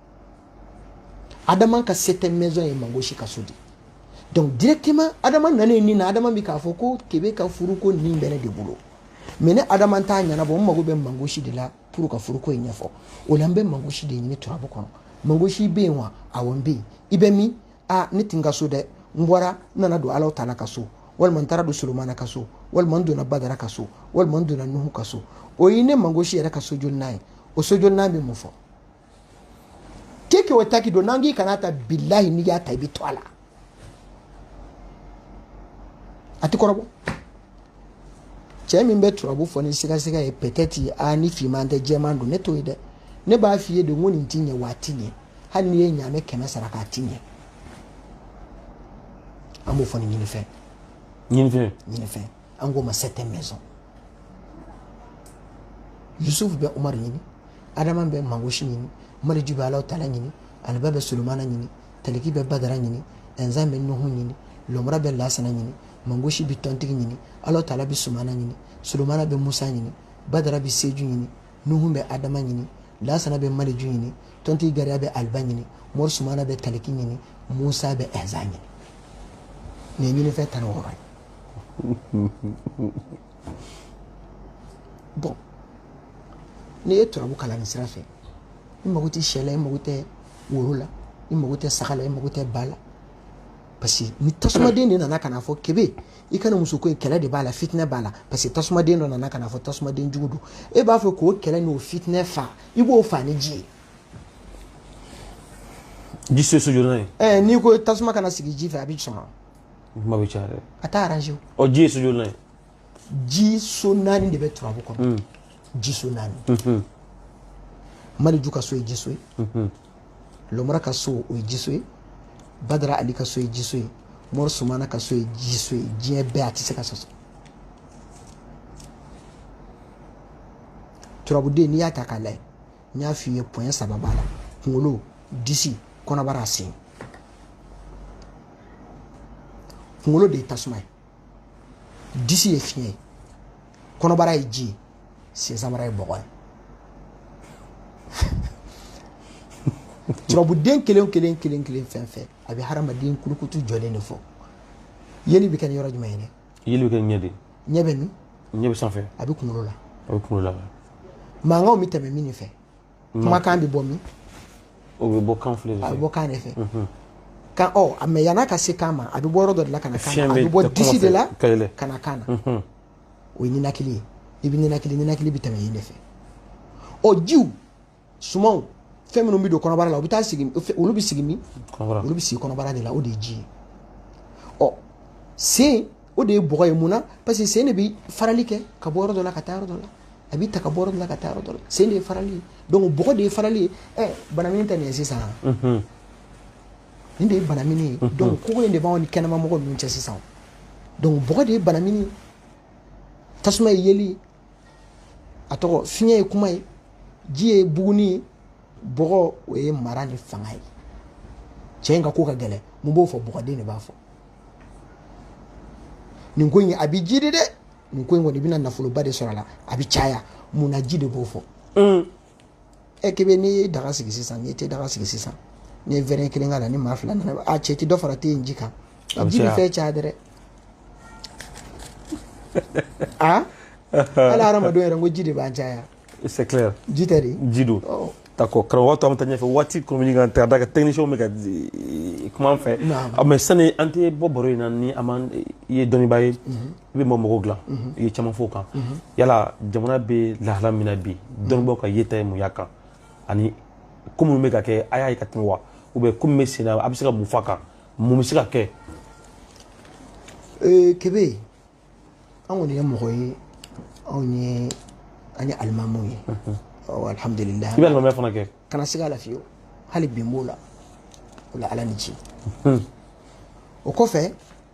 Speaker 2: adama ka septième maison ye mangosi ka so di donc directement adama nanen nin na adama bɛ k'a fɔ ko kebe ka furuko nin bɛ ne de bolo mais ne adama t'a ɲɛnabɔ n mago bɛ mangosi de la pour ka furuko in ɲɛfɔ o la n bɛ mangosi de ɲini turabu kɔnɔ mangosi bɛ yen wa awɔ n bɛ yen i bɛ min a ne tɛ n ka so dɛ n bɔra n nana don alaw tala ka so walima n taara don solomana ka so walima n donna badara ka so walima n donna nuhu ka so o ye ne mangosi yɛrɛ ka so jolinan ye o so jolinan bɛ mun fɔ keke o taki don n'an k'i kana ta bilahi n'i y'a ta i bɛ to a la a ti kɔrɔbɔ cɛ min bɛ turabu fɔ ni sigasiga ye peut être a ni finman tɛ jɛman don ne t'o ye dɛ ne b'a f'i ye de ko nin ti ɲɛ wa a ti ɲɛ hali n'i ye ɲaamɛ kɛmɛ saraka a ti ɲɛ an b'o fɔ ni ɲinifɛn ɲinifɛn ɲinifɛn an k'o ma septième maison yusufu bɛ umaru ɲini adama bɛ mangosi ɲini maliju bɛ alaw tala ɲini aliba bɛ solomana ɲini taliki bɛ badara ɲini ɛnzan bɛ nuhu ɲini lɔmura bɛ lasana ɲini mangosi bɛ tɔntigi ɲini alaw tala bɛ sumana ɲini solomana bɛ musa ɲini badara bɛ seju ɲini nuhu bɛ adama ɲini lasana bɛ maliju ɲini tɔntigi gariya bɛ aliba ɲini mori sumana bɛ taliki ɲini musa bɛ ɛnzan ɲini nin ye ɲinifɛn tan ni wɔɔrɔ ye bɔn n'i ye turabu kalan nin sira fɛ i mago tɛ sɛ la i mago tɛ woro la i mago tɛ saga la i mago tɛ ba la parce que ni tasumaden de nana ka na fɔ kebe i kana muso ko in kɛlɛ de b'a la fitinɛ b'a la parce que tasumaden dɔ nana ka na fɔ tasumaden jugu don e b'a fɛ k'o kɛlɛ n'o fitinɛ fa i b'o fa ni ji ye ji so so jolinan ye
Speaker 1: ɛɛ n'i ko tasuma kana
Speaker 2: sigi ji fɛ a bɛ sɔn kuma
Speaker 1: bɛ caya dɛ a t'a arrange o
Speaker 2: ɔ ji ye so jolinan ye ji so naani de bɛ turabu kɔnɔ hmm. ji so naani hmm. maliju ka so ye ji so ye hmm. lomara ka so o ye ji so ye badara ali ka so ye ji so ye mɔri sumana ka so ye ji so ye diɲɛ bɛɛ a tɛ se ka sɔsɔ turabuden n'i y'a ta k'a lajɛ n y'a f'i ye point saba b'a la kunkolo disi kɔnɔbara a sen kunkolo de ye tasuma ye disi ye fiɲɛ ye kɔnɔbara ye ji ye sensanbara ye bɔgɔ ye turabuden kelen kelen kelen kelen fɛn fɛn a bɛ hadamaden kulukutu jɔlen de fɔ yeli bɛ kɛ ni yɔrɔ jumɛn ye dɛ yeli bɛ kɛ ɲɛ
Speaker 1: de ɲɛ bɛ
Speaker 2: min ɲɛ bɛ sanfɛ
Speaker 1: a bɛ kunkolo
Speaker 2: la a bɛ kunkolo
Speaker 1: la mankanw bɛ tɛmɛ min de
Speaker 2: fɛ kumakan bɛ bɔ min o bɛ
Speaker 1: bɔ kan file de fɛ a bɛ bɔ kan de fɛ
Speaker 2: kan ɔ a mais yan'a ka se kan ma a bɛ bɔ yɔrɔ dɔ de la ka na kan na a bɛ bɔ disi de la ka na kan na o ye ninakili ye i bɛ ninakili ninakili bɛ tɛmɛ yen de fɛ ɔ jiw sumanw fɛn minnu bɛ don kɔnɔbara la u bɛ taa sigi olu bɛ sigi min olu bɛ sigi kɔnɔbara de la o de ye ji ye ɔ sen o de ye bɔgɔ ye mun na parce que sen de bɛ farali kɛ ka bɔ yɔrɔ dɔ la ka taa yɔrɔ dɔ la a bɛ ta ka bɔ yɔrɔ dɔ la ka taa yɔrɔ dɔ la sen de ye farali ye donc bɔgɔ de ye farali ye ɛ banamini tɛ nin ye sisan nin de ye banamini ye donc kogo in de b'anw ni kɛnɛmamɔgɔ ninnu cɛ sisan donc bɔgɔ de ye banamini ye tasuma ye yeli ye a tɔgɔ fiɲɛ ye kuma ye ji ye bugunni ye bɔgɔ o ye mara ni fanga ye cɛ in ka ko ka gɛlɛn mun b'o fɔ bɔgɔden de b'a fɔ nin ko in a bɛ jiidi dɛ nin ko in kɔni i bɛna nafoloba de sɔrɔ a la a bɛ caya mun na ji de b'o fɔ ɛ k'i bɛ n'i ye daga sigi sisan n'i te daga sigi sisan n'i ye wɛrɛ kelen k'a la ni maa fila nana a cɛ ti dɔ fara te in ji kan A bɛ ji bɛ caya. fɛn caya dɛ a hali hadamadenw yɛrɛ n ko ji de b'an caya c'est
Speaker 1: clair ji tɛ de ji
Speaker 2: don
Speaker 1: Ɔ, d'accord karamɔgɔ to an bɛ taa ɲɛfɛ waati kɔmini kan ka da kan technicien bɛ ka eh, kuma an fɛ Naam. Ah, mais sani an tɛ bɔ baro in na ni an m'an i ye dɔnnibaa ye i bɛ ma mɔgɔw dilan i ye caman f'o kan yala jamana bɛ lahala min na bi dɔnnibaaw ka yeta ye mun y'a kan ani ko minnu bɛ ka kɛ a y'a ye ka tɛmɛ wa ou bien ko min bɛ sen na a bɛ se ka mun f'a kan mun bɛ se ka kɛ
Speaker 2: kebe an kɔni ye mɔgɔ ye anw ye an ye alimamu ye alihamudulila i bɛ alimamiya fana kɛ
Speaker 1: kana se ka lafiyewu
Speaker 2: hali bi n b'o la o la ala ni ci o kɔfɛ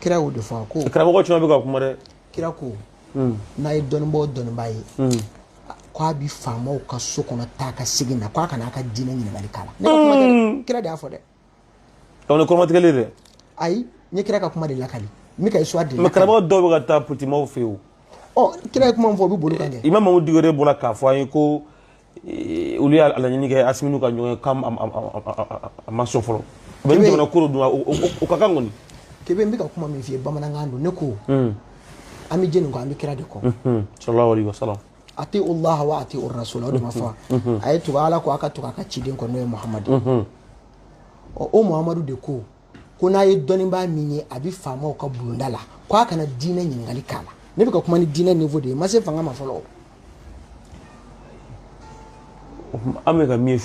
Speaker 2: kira y'o de fɔ a ko karamɔgɔ caman bɛ ka kuma
Speaker 1: dɛ kira
Speaker 2: ko hmm. n'a ye dɔnnibaa o dɔnnibaa ye hmm. k'a bi faamaw ka so kɔnɔ taa ka segin na k'a kana a ka diinɛ ɲininkali k'a la ne ka kuma tɛ hmm. kira de y'a fɔ dɛ
Speaker 1: aw ni kɔrɔmatigɛli dɛ ayi n
Speaker 2: ye kira ka kuma de lakali n bɛ ka histoire de lakali karamɔgɔ dɔw bɛ ka
Speaker 1: taa politikimɔgɔw fɛ yen o ɔ kira ye kuma min fɔ o bɛ
Speaker 2: boli kan kɛ imamu mamudu diko yɛrɛ bɔra k'a
Speaker 1: fɔ an ye ko olu y'a laɲini kɛ asimilu ka ɲɔgɔn ye k'a ma sɔn fɔlɔ u bɛ ni jamana koro dun o ka kan kɔni kebe n bɛ ka kuma
Speaker 2: min f'i ye bamanankan don ne ko hmm. an bɛ jɛni kɔ an bɛ kira de kɔ hmm. sallallahu alaihi
Speaker 1: wasallam atiullah
Speaker 2: wa atiu rasul o de ma fɔ hmm. a ye tugu ala kɔ a ka tugu a ka ciden kɔ n'o ye muhamadu ɔ o muhamadu de ko ko n'a ye dɔnnibaa min ye a bɛ faamaw ka bulonda la ko a kana diinɛ ɲininkali k'a la ne bɛ ka kuma ni diinɛ niveau de ye n ma se fanga ma
Speaker 1: fɔlɔ an bɛ ka min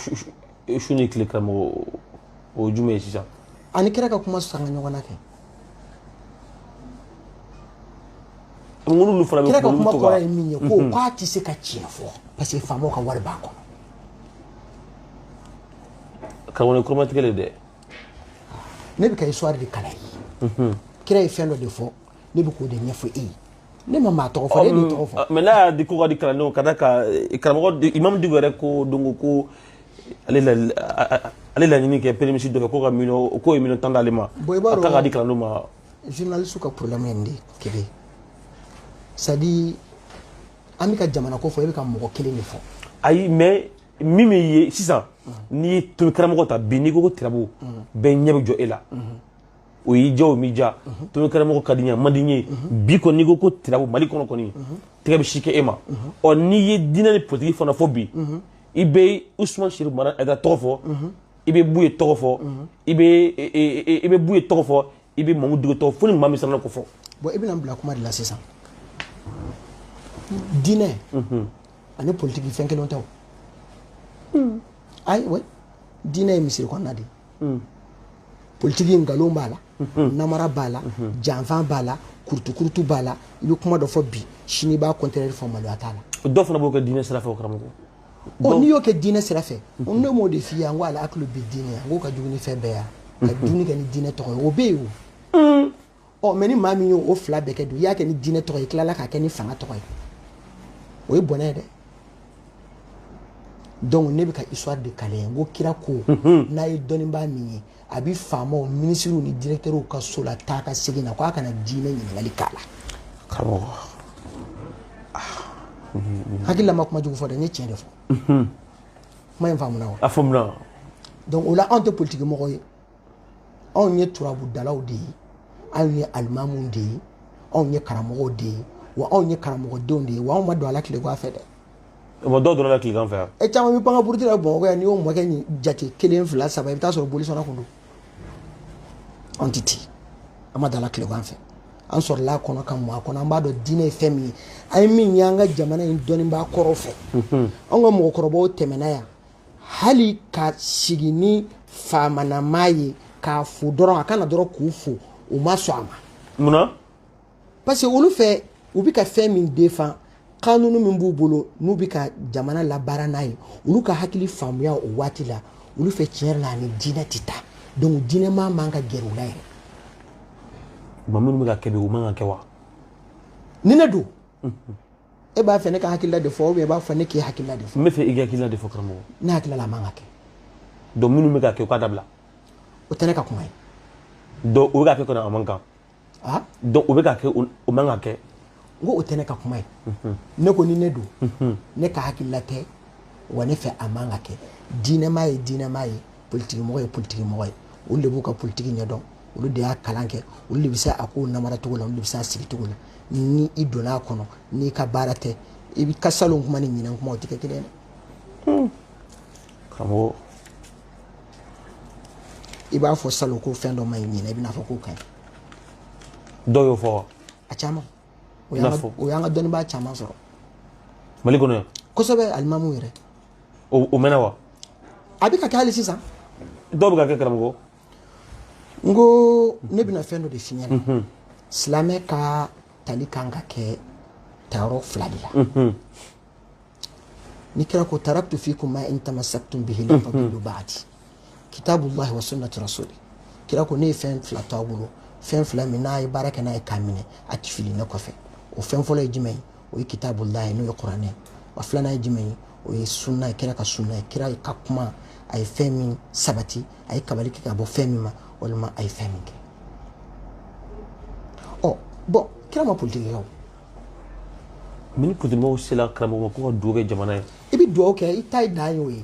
Speaker 1: ye su ni tile karamɔgɔ o ye jumɛn ye sisan ani kira ka
Speaker 2: kuma sanga ɲɔgɔn na kɛ
Speaker 1: ŋunu fana bɛ kira ka kuma kɔrɔ ye min
Speaker 2: ye ko mhm. k'a tɛ se ka tiɲɛ fɔ parce que faamaw ka wari b'a kɔnɔ
Speaker 1: karamɔgɔ kɔrɔmatigɛli dɛ
Speaker 2: ne bɛ ka histoire de kalan ye kira ye fɛn dɔ de fɔ ne bɛ k'o de ɲɛfɔ e ye ne ma maa tɔgɔ fɔ e de tɔgɔ fɔ mais n'a y'a di ko ka di kalandenw
Speaker 1: ka da ka karamɔgɔ imamu diko yɛrɛ ko donc ko ale laɲini kɛ premier ministre dɔ fɛ ko ka miliyɔn k'o ye miliyɔn tan d'ale ma a ta ka di kalandenw ma journaliste
Speaker 2: ka problème ye nin de kelen c'est à dire an bɛ ka jamana ko fɔ e bɛ ka mɔgɔ kelen de fɔ ayi mais
Speaker 1: min bɛ ye sisan n'i ye tomi karamɔgɔ ta bi n'i ko ko tirabu bɛɛ ɲɛ bɛ jɔ e la o y'i diya o m'i diya tomi karamɔgɔ ka di n ye a man di n ye bi kɔni n'i ko ko tirabu mali kɔnɔ kɔni tɛgɛ bɛ si kɛ e ma ɔ n'i ye diinɛ ni politiki fana fɔ bi i bɛ usman serifu madani hayidara tɔgɔ fɔ i bɛ buye tɔgɔ fɔ i bɛ buye tɔgɔ fɔ i bɛ mamudu diko tɔgɔ fɔ ni maa min sera k'o fɔ bon i bɛna n bila kuma
Speaker 2: de la sisan diinɛ ani politiki fɛn kelen tɛ o hmm. ayiwa diinɛ ye misiri kɔnɔna de ye hmm. politiki nkalon b'a la hmm. namara b'a la janfan b'a la kurutukurutu b'a la i bɛ kuma dɔ fɔ bi sini i b'a contraire fɔ maloya t'a la dɔw fana b'o kɛ diinɛ sira
Speaker 1: fɛ o karamɔgɔ ɔ n'i y'o kɛ diinɛ
Speaker 2: sira fɛ ne m'o de f'i ye an ko ala hakili bɛ diinɛ an k'o ka jugu ni fɛn bɛɛ ye ka dumuni kɛ ni diinɛ tɔgɔ ye o bɛ yen o ɔ mais ni maa min y'o o fila bɛɛ kɛ dun i y'a kɛ ni diinɛ tɔgɔ ye i tilala k'a kɛ ni fanga tɔgɔ ye o ye bɔnɛ ye dɛ donc ne bɛ ka histoire de kalan n ko kira ko mhm. n'a ye dɔnnibaa min ye a bɛ faamaw minisiriw ni directeurs ka so la taa ka segin na ko a kana diinɛ ɲininkali k'a la
Speaker 1: karamɔgɔ
Speaker 2: ah. mhm. hakili la n ma kuma jugu fɔ dɛ n ye tiɲɛ de fɔ mhm. kuma in faamuna wa a faamuna donc o la anw tɛ politiki mɔgɔ ye anw ye turabudalaw de ye anw ye alimamuw de ye anw ye karamɔgɔw de ye wa anw ye karamɔgɔdenw de ye wa anw ma don a la tilegan fɛ dɛ mais dɔw donna
Speaker 1: tilegan fɛ yan e caman bɛ pan ka buruti
Speaker 2: la bamakɔ yan n'i y'o mɔkɛ jate kelen fila saba i bɛ taa sɔrɔ bolisɔnna kun don anw tɛ ten an ma don a la tilegan fɛ an sɔrɔla a kɔnɔ ka mɔ a kɔnɔ an b'a dɔn diinɛ ye fɛn min ye an ye min ye an ka jamana in dɔnnibaa kɔrɔw fɛ anw ka mɔgɔkɔrɔbaw tɛmɛna yan hali ka sigi ni faamanamaa ye k'a fo dɔrɔn a ka na dɔrɔn k'u fo u ma sɔn a ma munna parce que olu fɛ u bɛ ka fɛn min défend kanunu min b'u bolo n'u bɛ ka jamana labaara n'a ye olu ka hakili faamuya o waati la olu fɛ tiɲɛ yɛrɛ la a ni diinɛ tɛ taa donc diinɛmaa man ka gɛrɛ u la yɛrɛ
Speaker 1: mais minnu bɛ ka kɛ bi u man ka kɛ wa ni
Speaker 2: ne don e b'a fɛ ne ka hakilila de fɔ ou bien i b'a fɔ ne k'i hakilila de fɔ n bɛ fɛ i ka hakilila de
Speaker 1: fɔ karamɔgɔ ne hakili la a man ka
Speaker 2: kɛ donc minnu
Speaker 1: bɛ ka kɛ u k'a dabila o tɛ ne ka
Speaker 2: kuma ye donc o bɛ
Speaker 1: ka kɛ kɔni a man kan donc o bɛ ka kɛ o man ka kɛ n ko o tɛ ne
Speaker 2: ka kuma ye ne ko ni ne don ne ka hakilila tɛ wa ne fɛ a man ka kɛ diinɛmaa ye diinɛmaa ye politigimɔgɔ ye politigimɔgɔ ye olu de b'u ka politigi ɲɛdɔn olu de y'a kalan kɛ olu de bɛ se a kow namaracogo la olu de bɛ se a sigicogo la ni i donna a kɔnɔ n'i ka baara tɛ i bɛ ka salon kuma ni ɲinan kuma o tɛ kɛ kelen ye dɛ hmm. karamɔgɔ i b'a fɔ salon ko fɛn dɔ man ɲi ɲinan i bɛna fɔ k'o ka
Speaker 1: ɲi dɔw y'o fɔ wa a caman
Speaker 2: o y'an ka dɔnnibaa caman sɔrɔ mali
Speaker 1: kɔnɔ yan kosɛbɛ alimamu yɛrɛ
Speaker 2: o
Speaker 1: mɛnna wa a bɛ ka
Speaker 2: kɛ hali sisan dɔw bɛ ka
Speaker 1: kɛ
Speaker 2: karamɔgɔ n ko ne bɛna fɛn dɔ de f'i ɲɛna mhm. silamɛ ka tali kan ka kɛ tayɔrɔ fila de la mhm. ni kira ko taraktu fikum ma in tamassaktum bihi lan tadillu ba'di kitabullahi wa sunnati rasuli kira ko ne ye fɛn fila to a bolo fɛn fila min n'a ye baara kɛ n'a ye k'a minɛ a tɛ fili ne kɔfɛ o fɛn fɔlɔ ye jumɛn ye o ye kitabullahi n'o ye kuranɛ ye wa filanan ye jumɛn ye o ye sunna ye kira ka sunna ye kira ka kuma a ye fɛn min sabati a ye kabali kɛ ka bɔ fɛn min ma walima a ye fɛn min kɛ ɔ bon kira ma politiki kɛ o
Speaker 1: mais ni politikimɔgɔw sela karamɔgɔ ma ko ka dugawu kɛ jamana ye i bɛ dugawu kɛ i ta
Speaker 2: ye dan ye o ye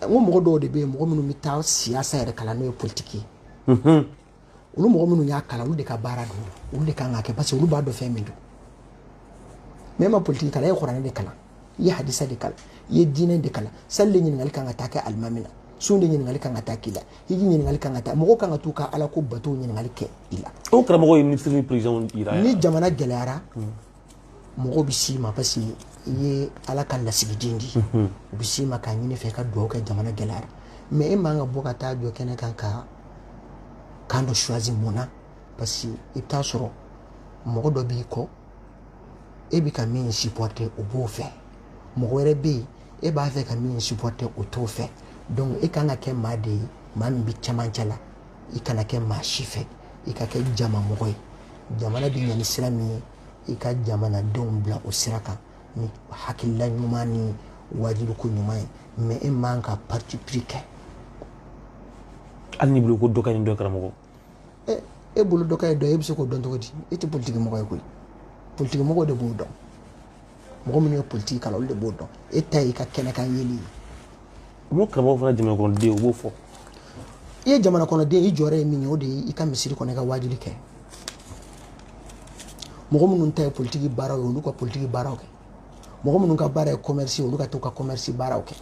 Speaker 2: n ko mɔgɔ dɔw de bɛ yen mɔgɔ minnu bɛ taa siyasa yɛrɛ kalan n'o ye politiki ye mhm. olu mɔgɔ minnu y'a kalan olu de ka baara don olu de kan k'a kɛ parce que olu b'a dɔn fɛn min don mɛ e ma politiki kalan e ye kuranɛ de kalan i ye hadisa de kalan i ye diinɛ de kalan sali de ɲininkali kan ka taa kɛ alimami na sun de ɲininkali kan ka taa k'i la hiji ɲininkali kan ka taa mɔgɔw kan ka t'u ka ala ko batow ɲininkali kɛ i la o karamɔgɔ ye minisiri ni
Speaker 1: perezidan yɛrɛ ni jamana gɛlɛyara
Speaker 2: mɔgɔw bɛ s'i ma parce que i ye ala ka lasigiden di mhm. u bɛ s'i ma k'a ɲini i fɛ ka dugawu kɛ jamana gɛlɛyara mɛ e man ka bɔ ka taa jɔ kɛnɛ kan ka camp dɔ choisi mun na parce que i bɛ taa sɔrɔ mɔgɔ dɔ b'i kɔ e bɛ ka min supporter o b'o fɛ mɔgɔ wɛrɛ bɛ yen e b'a fɛ ka min supporter o t'o fɛ donc e kan ka kɛ maa de ye maa min bɛ cɛmancɛ la i kana kɛ maa si fɛ i ka kɛ jama mɔgɔ ye jamana bɛ ɲa ni sira min ye i ka jamanadenw bila o sira kan ni hakilila ɲuman ni waajuliko ɲuman ye mɛ e man ka parti pris kɛ
Speaker 1: hali n'i bolo ko dɔ ka ɲi dɔ karamɔgɔ
Speaker 2: e bolo dɔ ka ɲi dɔ ye e bɛ se k'o dɔn cogo di e tɛ politiki mɔgɔ ye koyi politiki mɔgɔ de b'o dɔn mɔgɔ minnu ye politiki kalan olu de b'o dɔn e ta y'i ka kɛnɛkan yeli ye o
Speaker 1: karamɔgɔ fana jamanakɔnɔden u b'o fɔ i
Speaker 2: ye jamanakɔnɔden i jɔyɔrɔ ye min ye o de ye i ka misiri kɔnɔ i ka waajuli kɛ mɔgɔ minnu ta ye politiki baaraw ye olu ka politiki baaraw kɛ mɔgɔ minnu ka baara ye commerce olu ka t'u ka commerce baaraw kɛ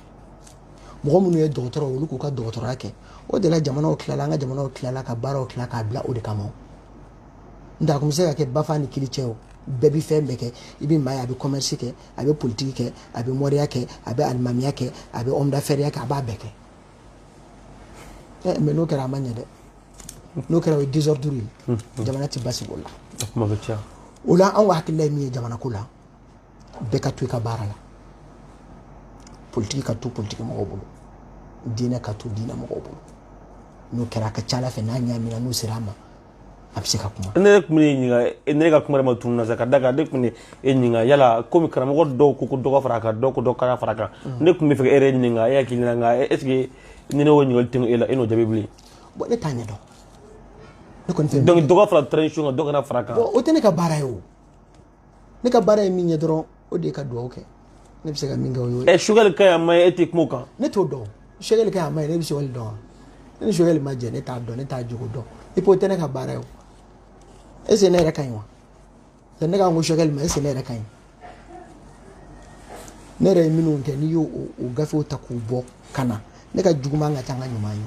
Speaker 2: mɔgɔ minnu ye dɔgɔtɔrɔ olu k'u ka dɔgɔtɔrɔya kɛ o de la jamanaw tilala an ka jamanaw tilala ka baaraw tila k'a bila o de kama n'o tɛ a kun bɛ se ka kɛ bafa ni kili cɛ o bɛɛ bɛ fɛn bɛɛ kɛ i bɛ maa ye a bɛ commerce kɛ a bɛ politiki kɛ a bɛ mɔriya kɛ a bɛ alimamiya kɛ a bɛ ɔmdafɛriya kɛ a b'a bɛɛ kɛ mɛ n'o kɛra a ma ɲɛ dɛ n'o kɛra o ye désordre ye jamana tɛ basigi o la o la anw ka hakilila ye min ye jamana ko la bɛɛ ka to i ka baara la politiki ka to politiki mɔgɔw bolo diinɛ ka to diinɛ mɔgɔw bolo n'o kɛra a ka ca ala fɛ n'a ɲaamina n'u sera a ma a bɛ se ka kuma ne tun b'i
Speaker 1: ɲininka ne ka kuma yɛrɛ ma tunun n na sabu ka d'a kan ne tun bɛ e ɲininka yala komi karamɔgɔ dɔw ko ko dɔ ka fara a kan dɔw ko dɔ kana fara a kan ne tun b'a fɛ k'e yɛrɛ ɲininka e hakili la nka est ce que ni ne y'o ɲininkali tɛmɛ e la e n'o jaabi bilen bon ne t'a ɲɛ
Speaker 2: dɔn ne kɔni tɛ donc dɔ ka fara transition kan
Speaker 1: dɔ kana fara a kan o tɛ ne ka baara ye o
Speaker 2: ne ka baara ye min ye dɔrɔn o de ye ka dugawu kɛ ne bɛ se ka min kɛ o y'o ye. ɛ choguel ka ɲi man ɲi
Speaker 1: e tɛ kuma o kan. ne t'o dɔn
Speaker 2: choguel ka ɲi man ɲi ne bɛ choguel dɔn wa ne ni choguel ma jɛ ne t'a dɔn ne t'a jogo dɔn i ko o tɛ ne ka baara ye o est ce que ne yɛrɛ ka ɲi wa yanni ne ka n ko choguel ma est ce que ne yɛrɛ ka ɲi ne yɛrɛ ye minnu kɛ n'i y'o gafew ta k'u bɔ ka na ne ka juguman ka ca n ka ɲuman ye.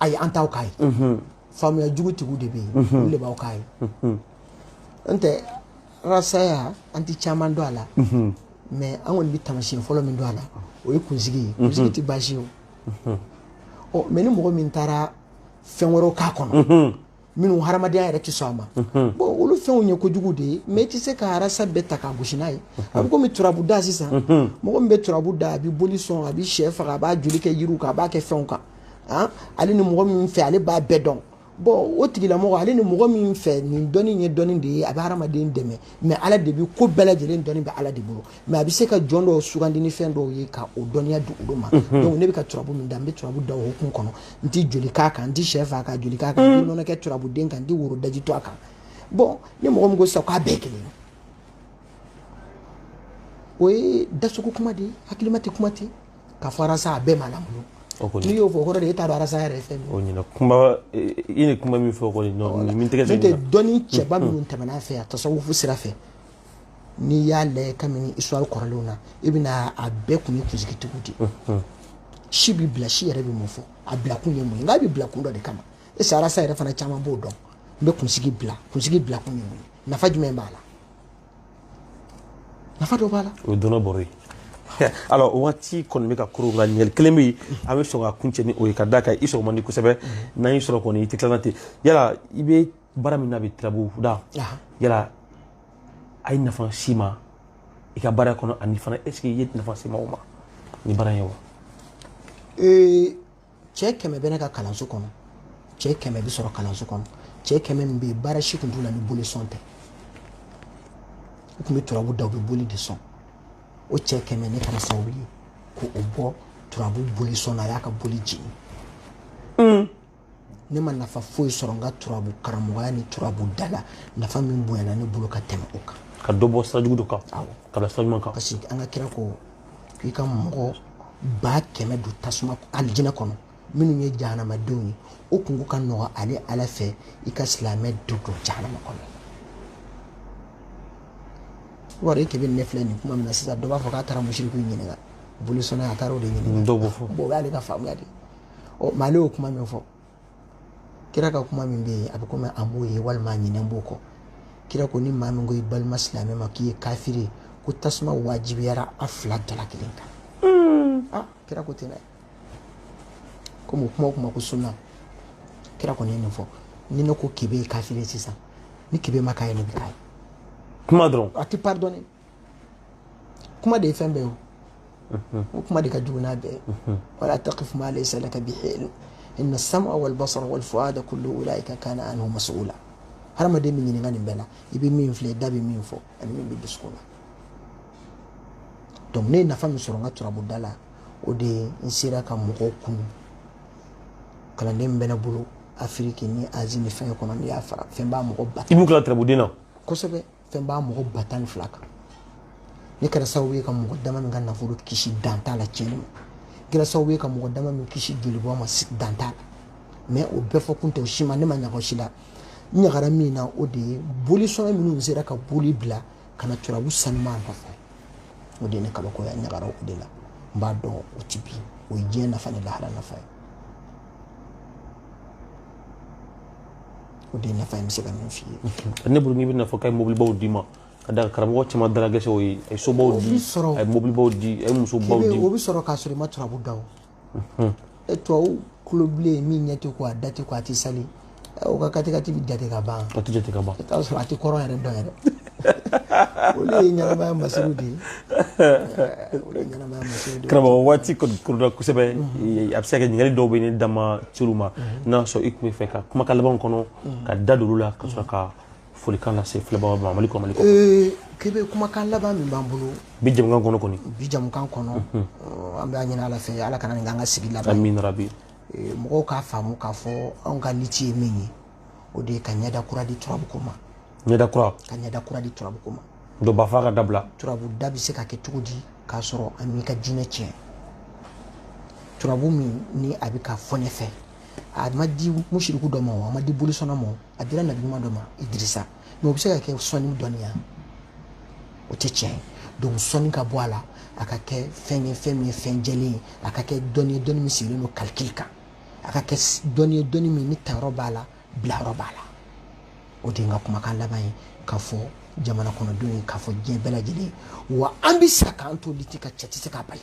Speaker 1: ayi an
Speaker 2: t'aw k'a ye faamuya jugutigiw de bɛ yen olu de b'aw k'a ye n tɛ rasaya an tɛ caman dɔn a la mais an kɔni bɛ tamasiyɛn fɔlɔ min dɔn a la o ye kunsigi ye kunsigi tɛ baasi ye o mais ni mɔgɔ min taara fɛn wɛrɛw k'a kɔnɔ minnu hadamadenya yɛrɛ tɛ sɔn a ma bon olu fɛnw ye kojugu de ye mais i tɛ se ka arasa bɛɛ ta k'a gosi n'a ye a bɛ komi turabu da sisan mɔgɔ min bɛ turabu da a bɛ boli sɔn a bɛ sɛ faga a b'a joli kɛ yiriw kan a b'a kɛ fɛnw kan ah, ale ni mɔgɔ min fɛ ale b'a bɛɛ dɔn bon o tigilamɔgɔ ale ni mɔgɔ min fɛ nin dɔnni ye dɔnni de ye a bɛ hadamaden dɛmɛ mais ala de bɛ ko bɛɛ lajɛlen dɔnni bɛ ala de bolo mais a bɛ se ka jɔn dɔw sugandi ni fɛn dɔw ye ka o dɔnniya di olu ma mhm. donc ne bɛ ka turabu min da n bɛ turabu da o hukumu kɔnɔ n tɛ joli k'a kan n tɛ sɛ faga ka joli k'a kan n tɛ nɔnɔ kɛ turabuden kan n tɛ woro daji to a kan bon ni mɔgɔ min ko sisan k'a bɛɛ kelen o ye dasogo kuma de ye hakilima tɛ kuma ten k'a fɔ arasa a bɛɛ ma lamɔ n'i y'o fɔ o kɔrɔ de e t'a dɔn arasa yɛrɛ ye fɛn min o ɲɛna kuma
Speaker 1: i ni kuma min fɔ kɔni min tɛgɛ n'o tɛ dɔnni cɛba
Speaker 2: minnu tɛmɛna a fɛ a tasawufu sira fɛ n'i y'a lajɛ kabini histoire kɔrɔlenw na i bɛna a bɛɛ kun ye kunsigitigiw de ye si bɛ bila si yɛrɛ bɛ mun fɔ a bila kun ye mun ye nka a bɛ bila kun dɔ de kama est ce que arasa yɛrɛ fana caman b'o dɔn n bɛ kunsigi bila kunsigi bila kun ye mun ye nafa jumɛn b'a la nafa dɔ b'a la o ye dɔnni bɔrɔ
Speaker 1: ye alors waati kɔni bɛ ka koro nka ɲininkali kelen bɛ yen an bɛ sɔn ka kuncɛ ni o ye ka d'a kan i sɔrɔ man di kosɛbɛ n'an y'i sɔrɔ kɔni i tɛ tila ten yala i bɛ baara min na bi tirabu da yala a ye nafa s'i ma i ka baara kɔnɔ ani fana est ce que i ye nafa se maaw ma ni baara ye wa
Speaker 2: cɛ kɛmɛ bɛ ne ka kalanso kɔnɔ cɛ kɛmɛ bɛ sɔrɔ kalanso kɔnɔ cɛ kɛmɛ min bɛ yen baara si tun t'u la ni boli sɔn tɛ u tun bɛ turabu da u bɛ boli de sɔn o cɛ kɛmɛ ne kɛra sababu ye k'u bɔ turabu boli sɔn na a y'a ka boli jigin ne ma nafa foyi sɔrɔ n ka turabu karamɔgɔya ni turabu da la nafa min bonyana ne bolo ka tɛmɛ o kan ka dɔ bɔ sira jugu dɔ
Speaker 1: kan k'a bila sira ɲuman kan parce que an ka kira ko
Speaker 2: k'i ka mɔgɔ ba kɛmɛ don tasuma alijinɛ kɔnɔ minnu ye jahanamadenw ye o kunko ka nɔgɔ ale ala fɛ i ka silamɛ dɔ don jahanama kɔnɔ wari e kebe ne filɛ nin kuma min na sisan dɔ b'a fɔ k'a taara musiriku ɲininka bolisɔnna a taara o de ɲininka dɔw b'o fɔ o y'ale ka
Speaker 1: faamuya de ye
Speaker 2: ɔ mais ale y'o kuma min fɔ kira ka kuma min bɛ yen a bɛ komi a m'o ye walima a ɲinɛnen b'o kɔ kira ko ni maa min ko i balima silamɛ ma k'i ye kafiri ye ko tasuma wajibiyara a fila dala kelen kan hmm. ah, kira ko ten dɛ komi o kuma o kuma ko sunna kira kɔni ye nin fɔ ni ne ko kebe ye kafiri ye sisan ni kebe ma k'a ye ne bɛ k'a ye kuma dɔrɔn
Speaker 1: a tɛ pardonner
Speaker 2: kuma de ye fɛn bɛɛ ye o kuma de ka jugu n'a bɛɛ wala taqif ma laysa laka bihi ilm inna as-sam'a wal basara wal fu'ada kullu ulaika kana anhu mas'ula hadamaden bɛ ɲininka nin bɛɛ la i bɛ min filɛ i da bɛ min fɔ ani min bɛ dusukun na donc ne ye nafa min sɔrɔ n ka turabuda la o de ye n sera ka mɔgɔw kunun kalanden min bɛ ne bolo afiriki ni azi ni fɛn kɔnɔ n'i y'a fara fɛn b'a mɔgɔ ba i b'u kila turabuden na
Speaker 1: kosɛbɛ fɛn
Speaker 2: b'a mɔgɔ ba tan ni fila kan ne kɛra sababu ye ka mɔgɔ dama min ka nafolo kisi dan t'a la tiɲɛni ma kɛra sababu ye ka mɔgɔ dama min kisi jolibɔn ma dan t'a la mɛ o bɛɛ fɔ kun tɛ o si ma ne ma ɲaga o si la n ɲagara min na o de ye bolisɔnna minnu sera ka boli bila ka na turabu sanuma nɔfɛ o de ye ne kabakoya n ɲagara o de la n b'a dɔn o tɛ bin o ye diɲɛ nafa ni lahara nafa ye
Speaker 1: o
Speaker 2: de
Speaker 1: nafa ye n bɛ
Speaker 2: se ka
Speaker 1: min f'i
Speaker 2: ye ne
Speaker 1: bolo n'i
Speaker 2: bɛna
Speaker 1: fɔ k'a ye
Speaker 2: mobilibaw d'i ma ka da
Speaker 1: karamɔgɔ caman dala gɛsɛ o ye a ye sobaw di a ye mobilibaw di a ye musobaw di o bɛ sɔrɔ k'a sɔrɔ i
Speaker 2: ma turabu da o tubabu golo bilen min ɲɛ tɛ ko a da tɛ ko a tɛ sali o ka katikati bɛ jate ka ban a tɛ jate ka ban i
Speaker 1: t'a sɔrɔ a tɛ kɔrɔn
Speaker 2: yɛrɛ dɔn yɛrɛ olu ye ɲɛnamaya masiriw de ye olu ye ɲɛnamaya masiriw de ye karamɔgɔ waati kɔni kurula
Speaker 1: kosɛbɛ a bɛ se ka kɛ ɲininkali dɔw bɛ ne da ma turu ma n'a y'a sɔrɔ i tun b'a fɛ ka kumakan laban kɔnɔ ka da don olu la ka sɔrɔ ka folikan lase filɛbagaw ma mali kɔnɔ mali kɔkan
Speaker 2: bɛɛ kumakan laban min b'an bolo bi jɛmukan kɔnɔ kɔni
Speaker 1: bi jɛmukan kɔnɔ
Speaker 2: an b'a ɲini ala fɛ ala kana nin k'an ka sigi laban amin rabi
Speaker 1: mɔgɔw
Speaker 2: k'a faamu k'a fɔ anw ka liti ye min ye o de ye ka ɲɛda kura di turabuko ma ɲɛda kura ka
Speaker 1: ɲɛda kura di turabuko
Speaker 2: ma dɔ b'a fɔ k'a dabila
Speaker 1: turabu da bɛ se ka kɛ
Speaker 2: cogo di k'a sɔrɔ a m'i ka diinɛ tiɲɛ turabu min ni a bɛ ka fɔ ne fɛ a ma di musiriku dɔ ma o a ma di bolisɔnna ma a dira nabiɲuman dɔ ma idirisa mɛ o bɛ se ka kɛ sɔnni dɔnniya o tɛ tiɲɛ ye donc sɔnni ka bɔ a la a ka kɛ fɛn ye fɛn min ye fɛn jɛlen ye a ka kɛ dɔnni ye dɔnni min sigilen don kalikili kan a ka kɛ dɔnni ye dɔnni min ni tayɔrɔ b'a la bilayɔrɔ b'a la o de ye n ka kumakan laban ye k'a fɔ jamana kɔnɔdenw ye k'a fɔ diɲɛ bɛɛ lajɛlen ye wa an bɛ sa k'an to liti kan cɛ tɛ se k'a bali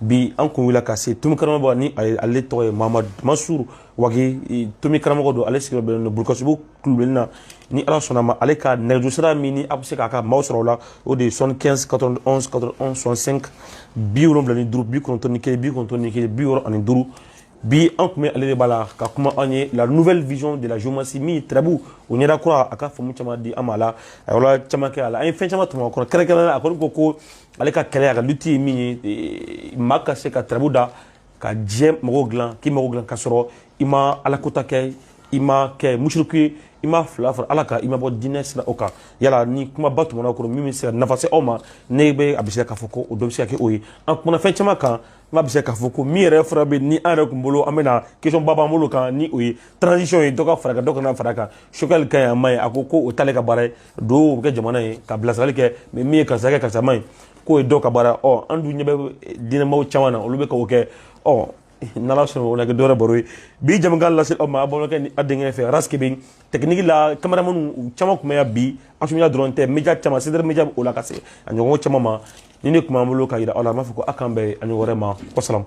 Speaker 1: bi an kun wulila ka se tomi karamɔgɔ ni ale tɔgɔ ye mahamadu mansuru wage tomi karamɔgɔ don ale sigiyɔrɔ bɛnnen don bulukasunbugu kulubilennin na ni ala sɔnn'a ma ale ka nɛgɛjuru sira min ni a bɛ se ka karamɔgɔ sɔrɔ o la o de ye soixante-quinze quatre-vingt-onze quatre-vingt-onze soixante-cinq bi wolonwula ni duuru bi kɔnɔntɔn ni kelen bi kɔnɔntɔn ni kelen bi wɔɔrɔ ani duuru bi an tun bɛ ale de bara ka kuma an ye la nouvelle vision de la géomancie min ye tɛrɛbu o ɲɛda kura a ka faamu caman di an ma a la a yɔrɔ caman kɛ a la an ye fɛn caman tɔmɔ a kɔnɔ kɛrɛnkɛrɛnnenya la a kɔni ko ko ale ka kɛlɛ a ka lutte ye min ye eh, maa ka se ka turabu da ka diɲɛ mɔgɔw dilan k'i mago dilan ka sɔrɔ i ma alakota kɛ i ma kɛ musiriku ye i ma fila fara ala kan i ma bɔ diinɛ sira o kan yala ni kumaba tɛmɛna kɔnɔ min bɛ se ka nafa se aw ma ne bɛ a bɛ se k'a fɔ ko o dɔ bɛ se ka kɛ o ye an kumana fɛn caman kan n b'a bɛ se k'a fɔ ko min yɛrɛ fura bɛ ni an yɛrɛ tun bolo an bɛna question ba b'an bolo kan ni o ye transition ye dɔ ka fara kan dɔ kana fara kan Choguel ka ɲi a man ɲi a ko ko o t'ale ka baara ye duwa bɛ kɛ jamana ye ka bilasirali kɛ mais min ye karisa kɛ karisa man ɲi k'o ye dɔ ka baara ɔ an dun ɲɛ bɛ diinɛmaw caman na olu bɛ k'o kɛ ɔ n'ala sɔnna o na kɛ don wɛrɛ baro ye bi jamukan lase aw ma a balimakɛ ni a denkɛ fɛ Ras Kebe technique la cameramanw u caman tun bɛ yan bi Astou Media dɔrɔn tɛ media caman CDR media bɛ o la ka se a ɲɔgɔn caman ma nin de tun b'an bolo ka jira aw la an b'a fɔ ko a k'an bɛn a ɲɔgɔn wɛrɛ ma wasalamu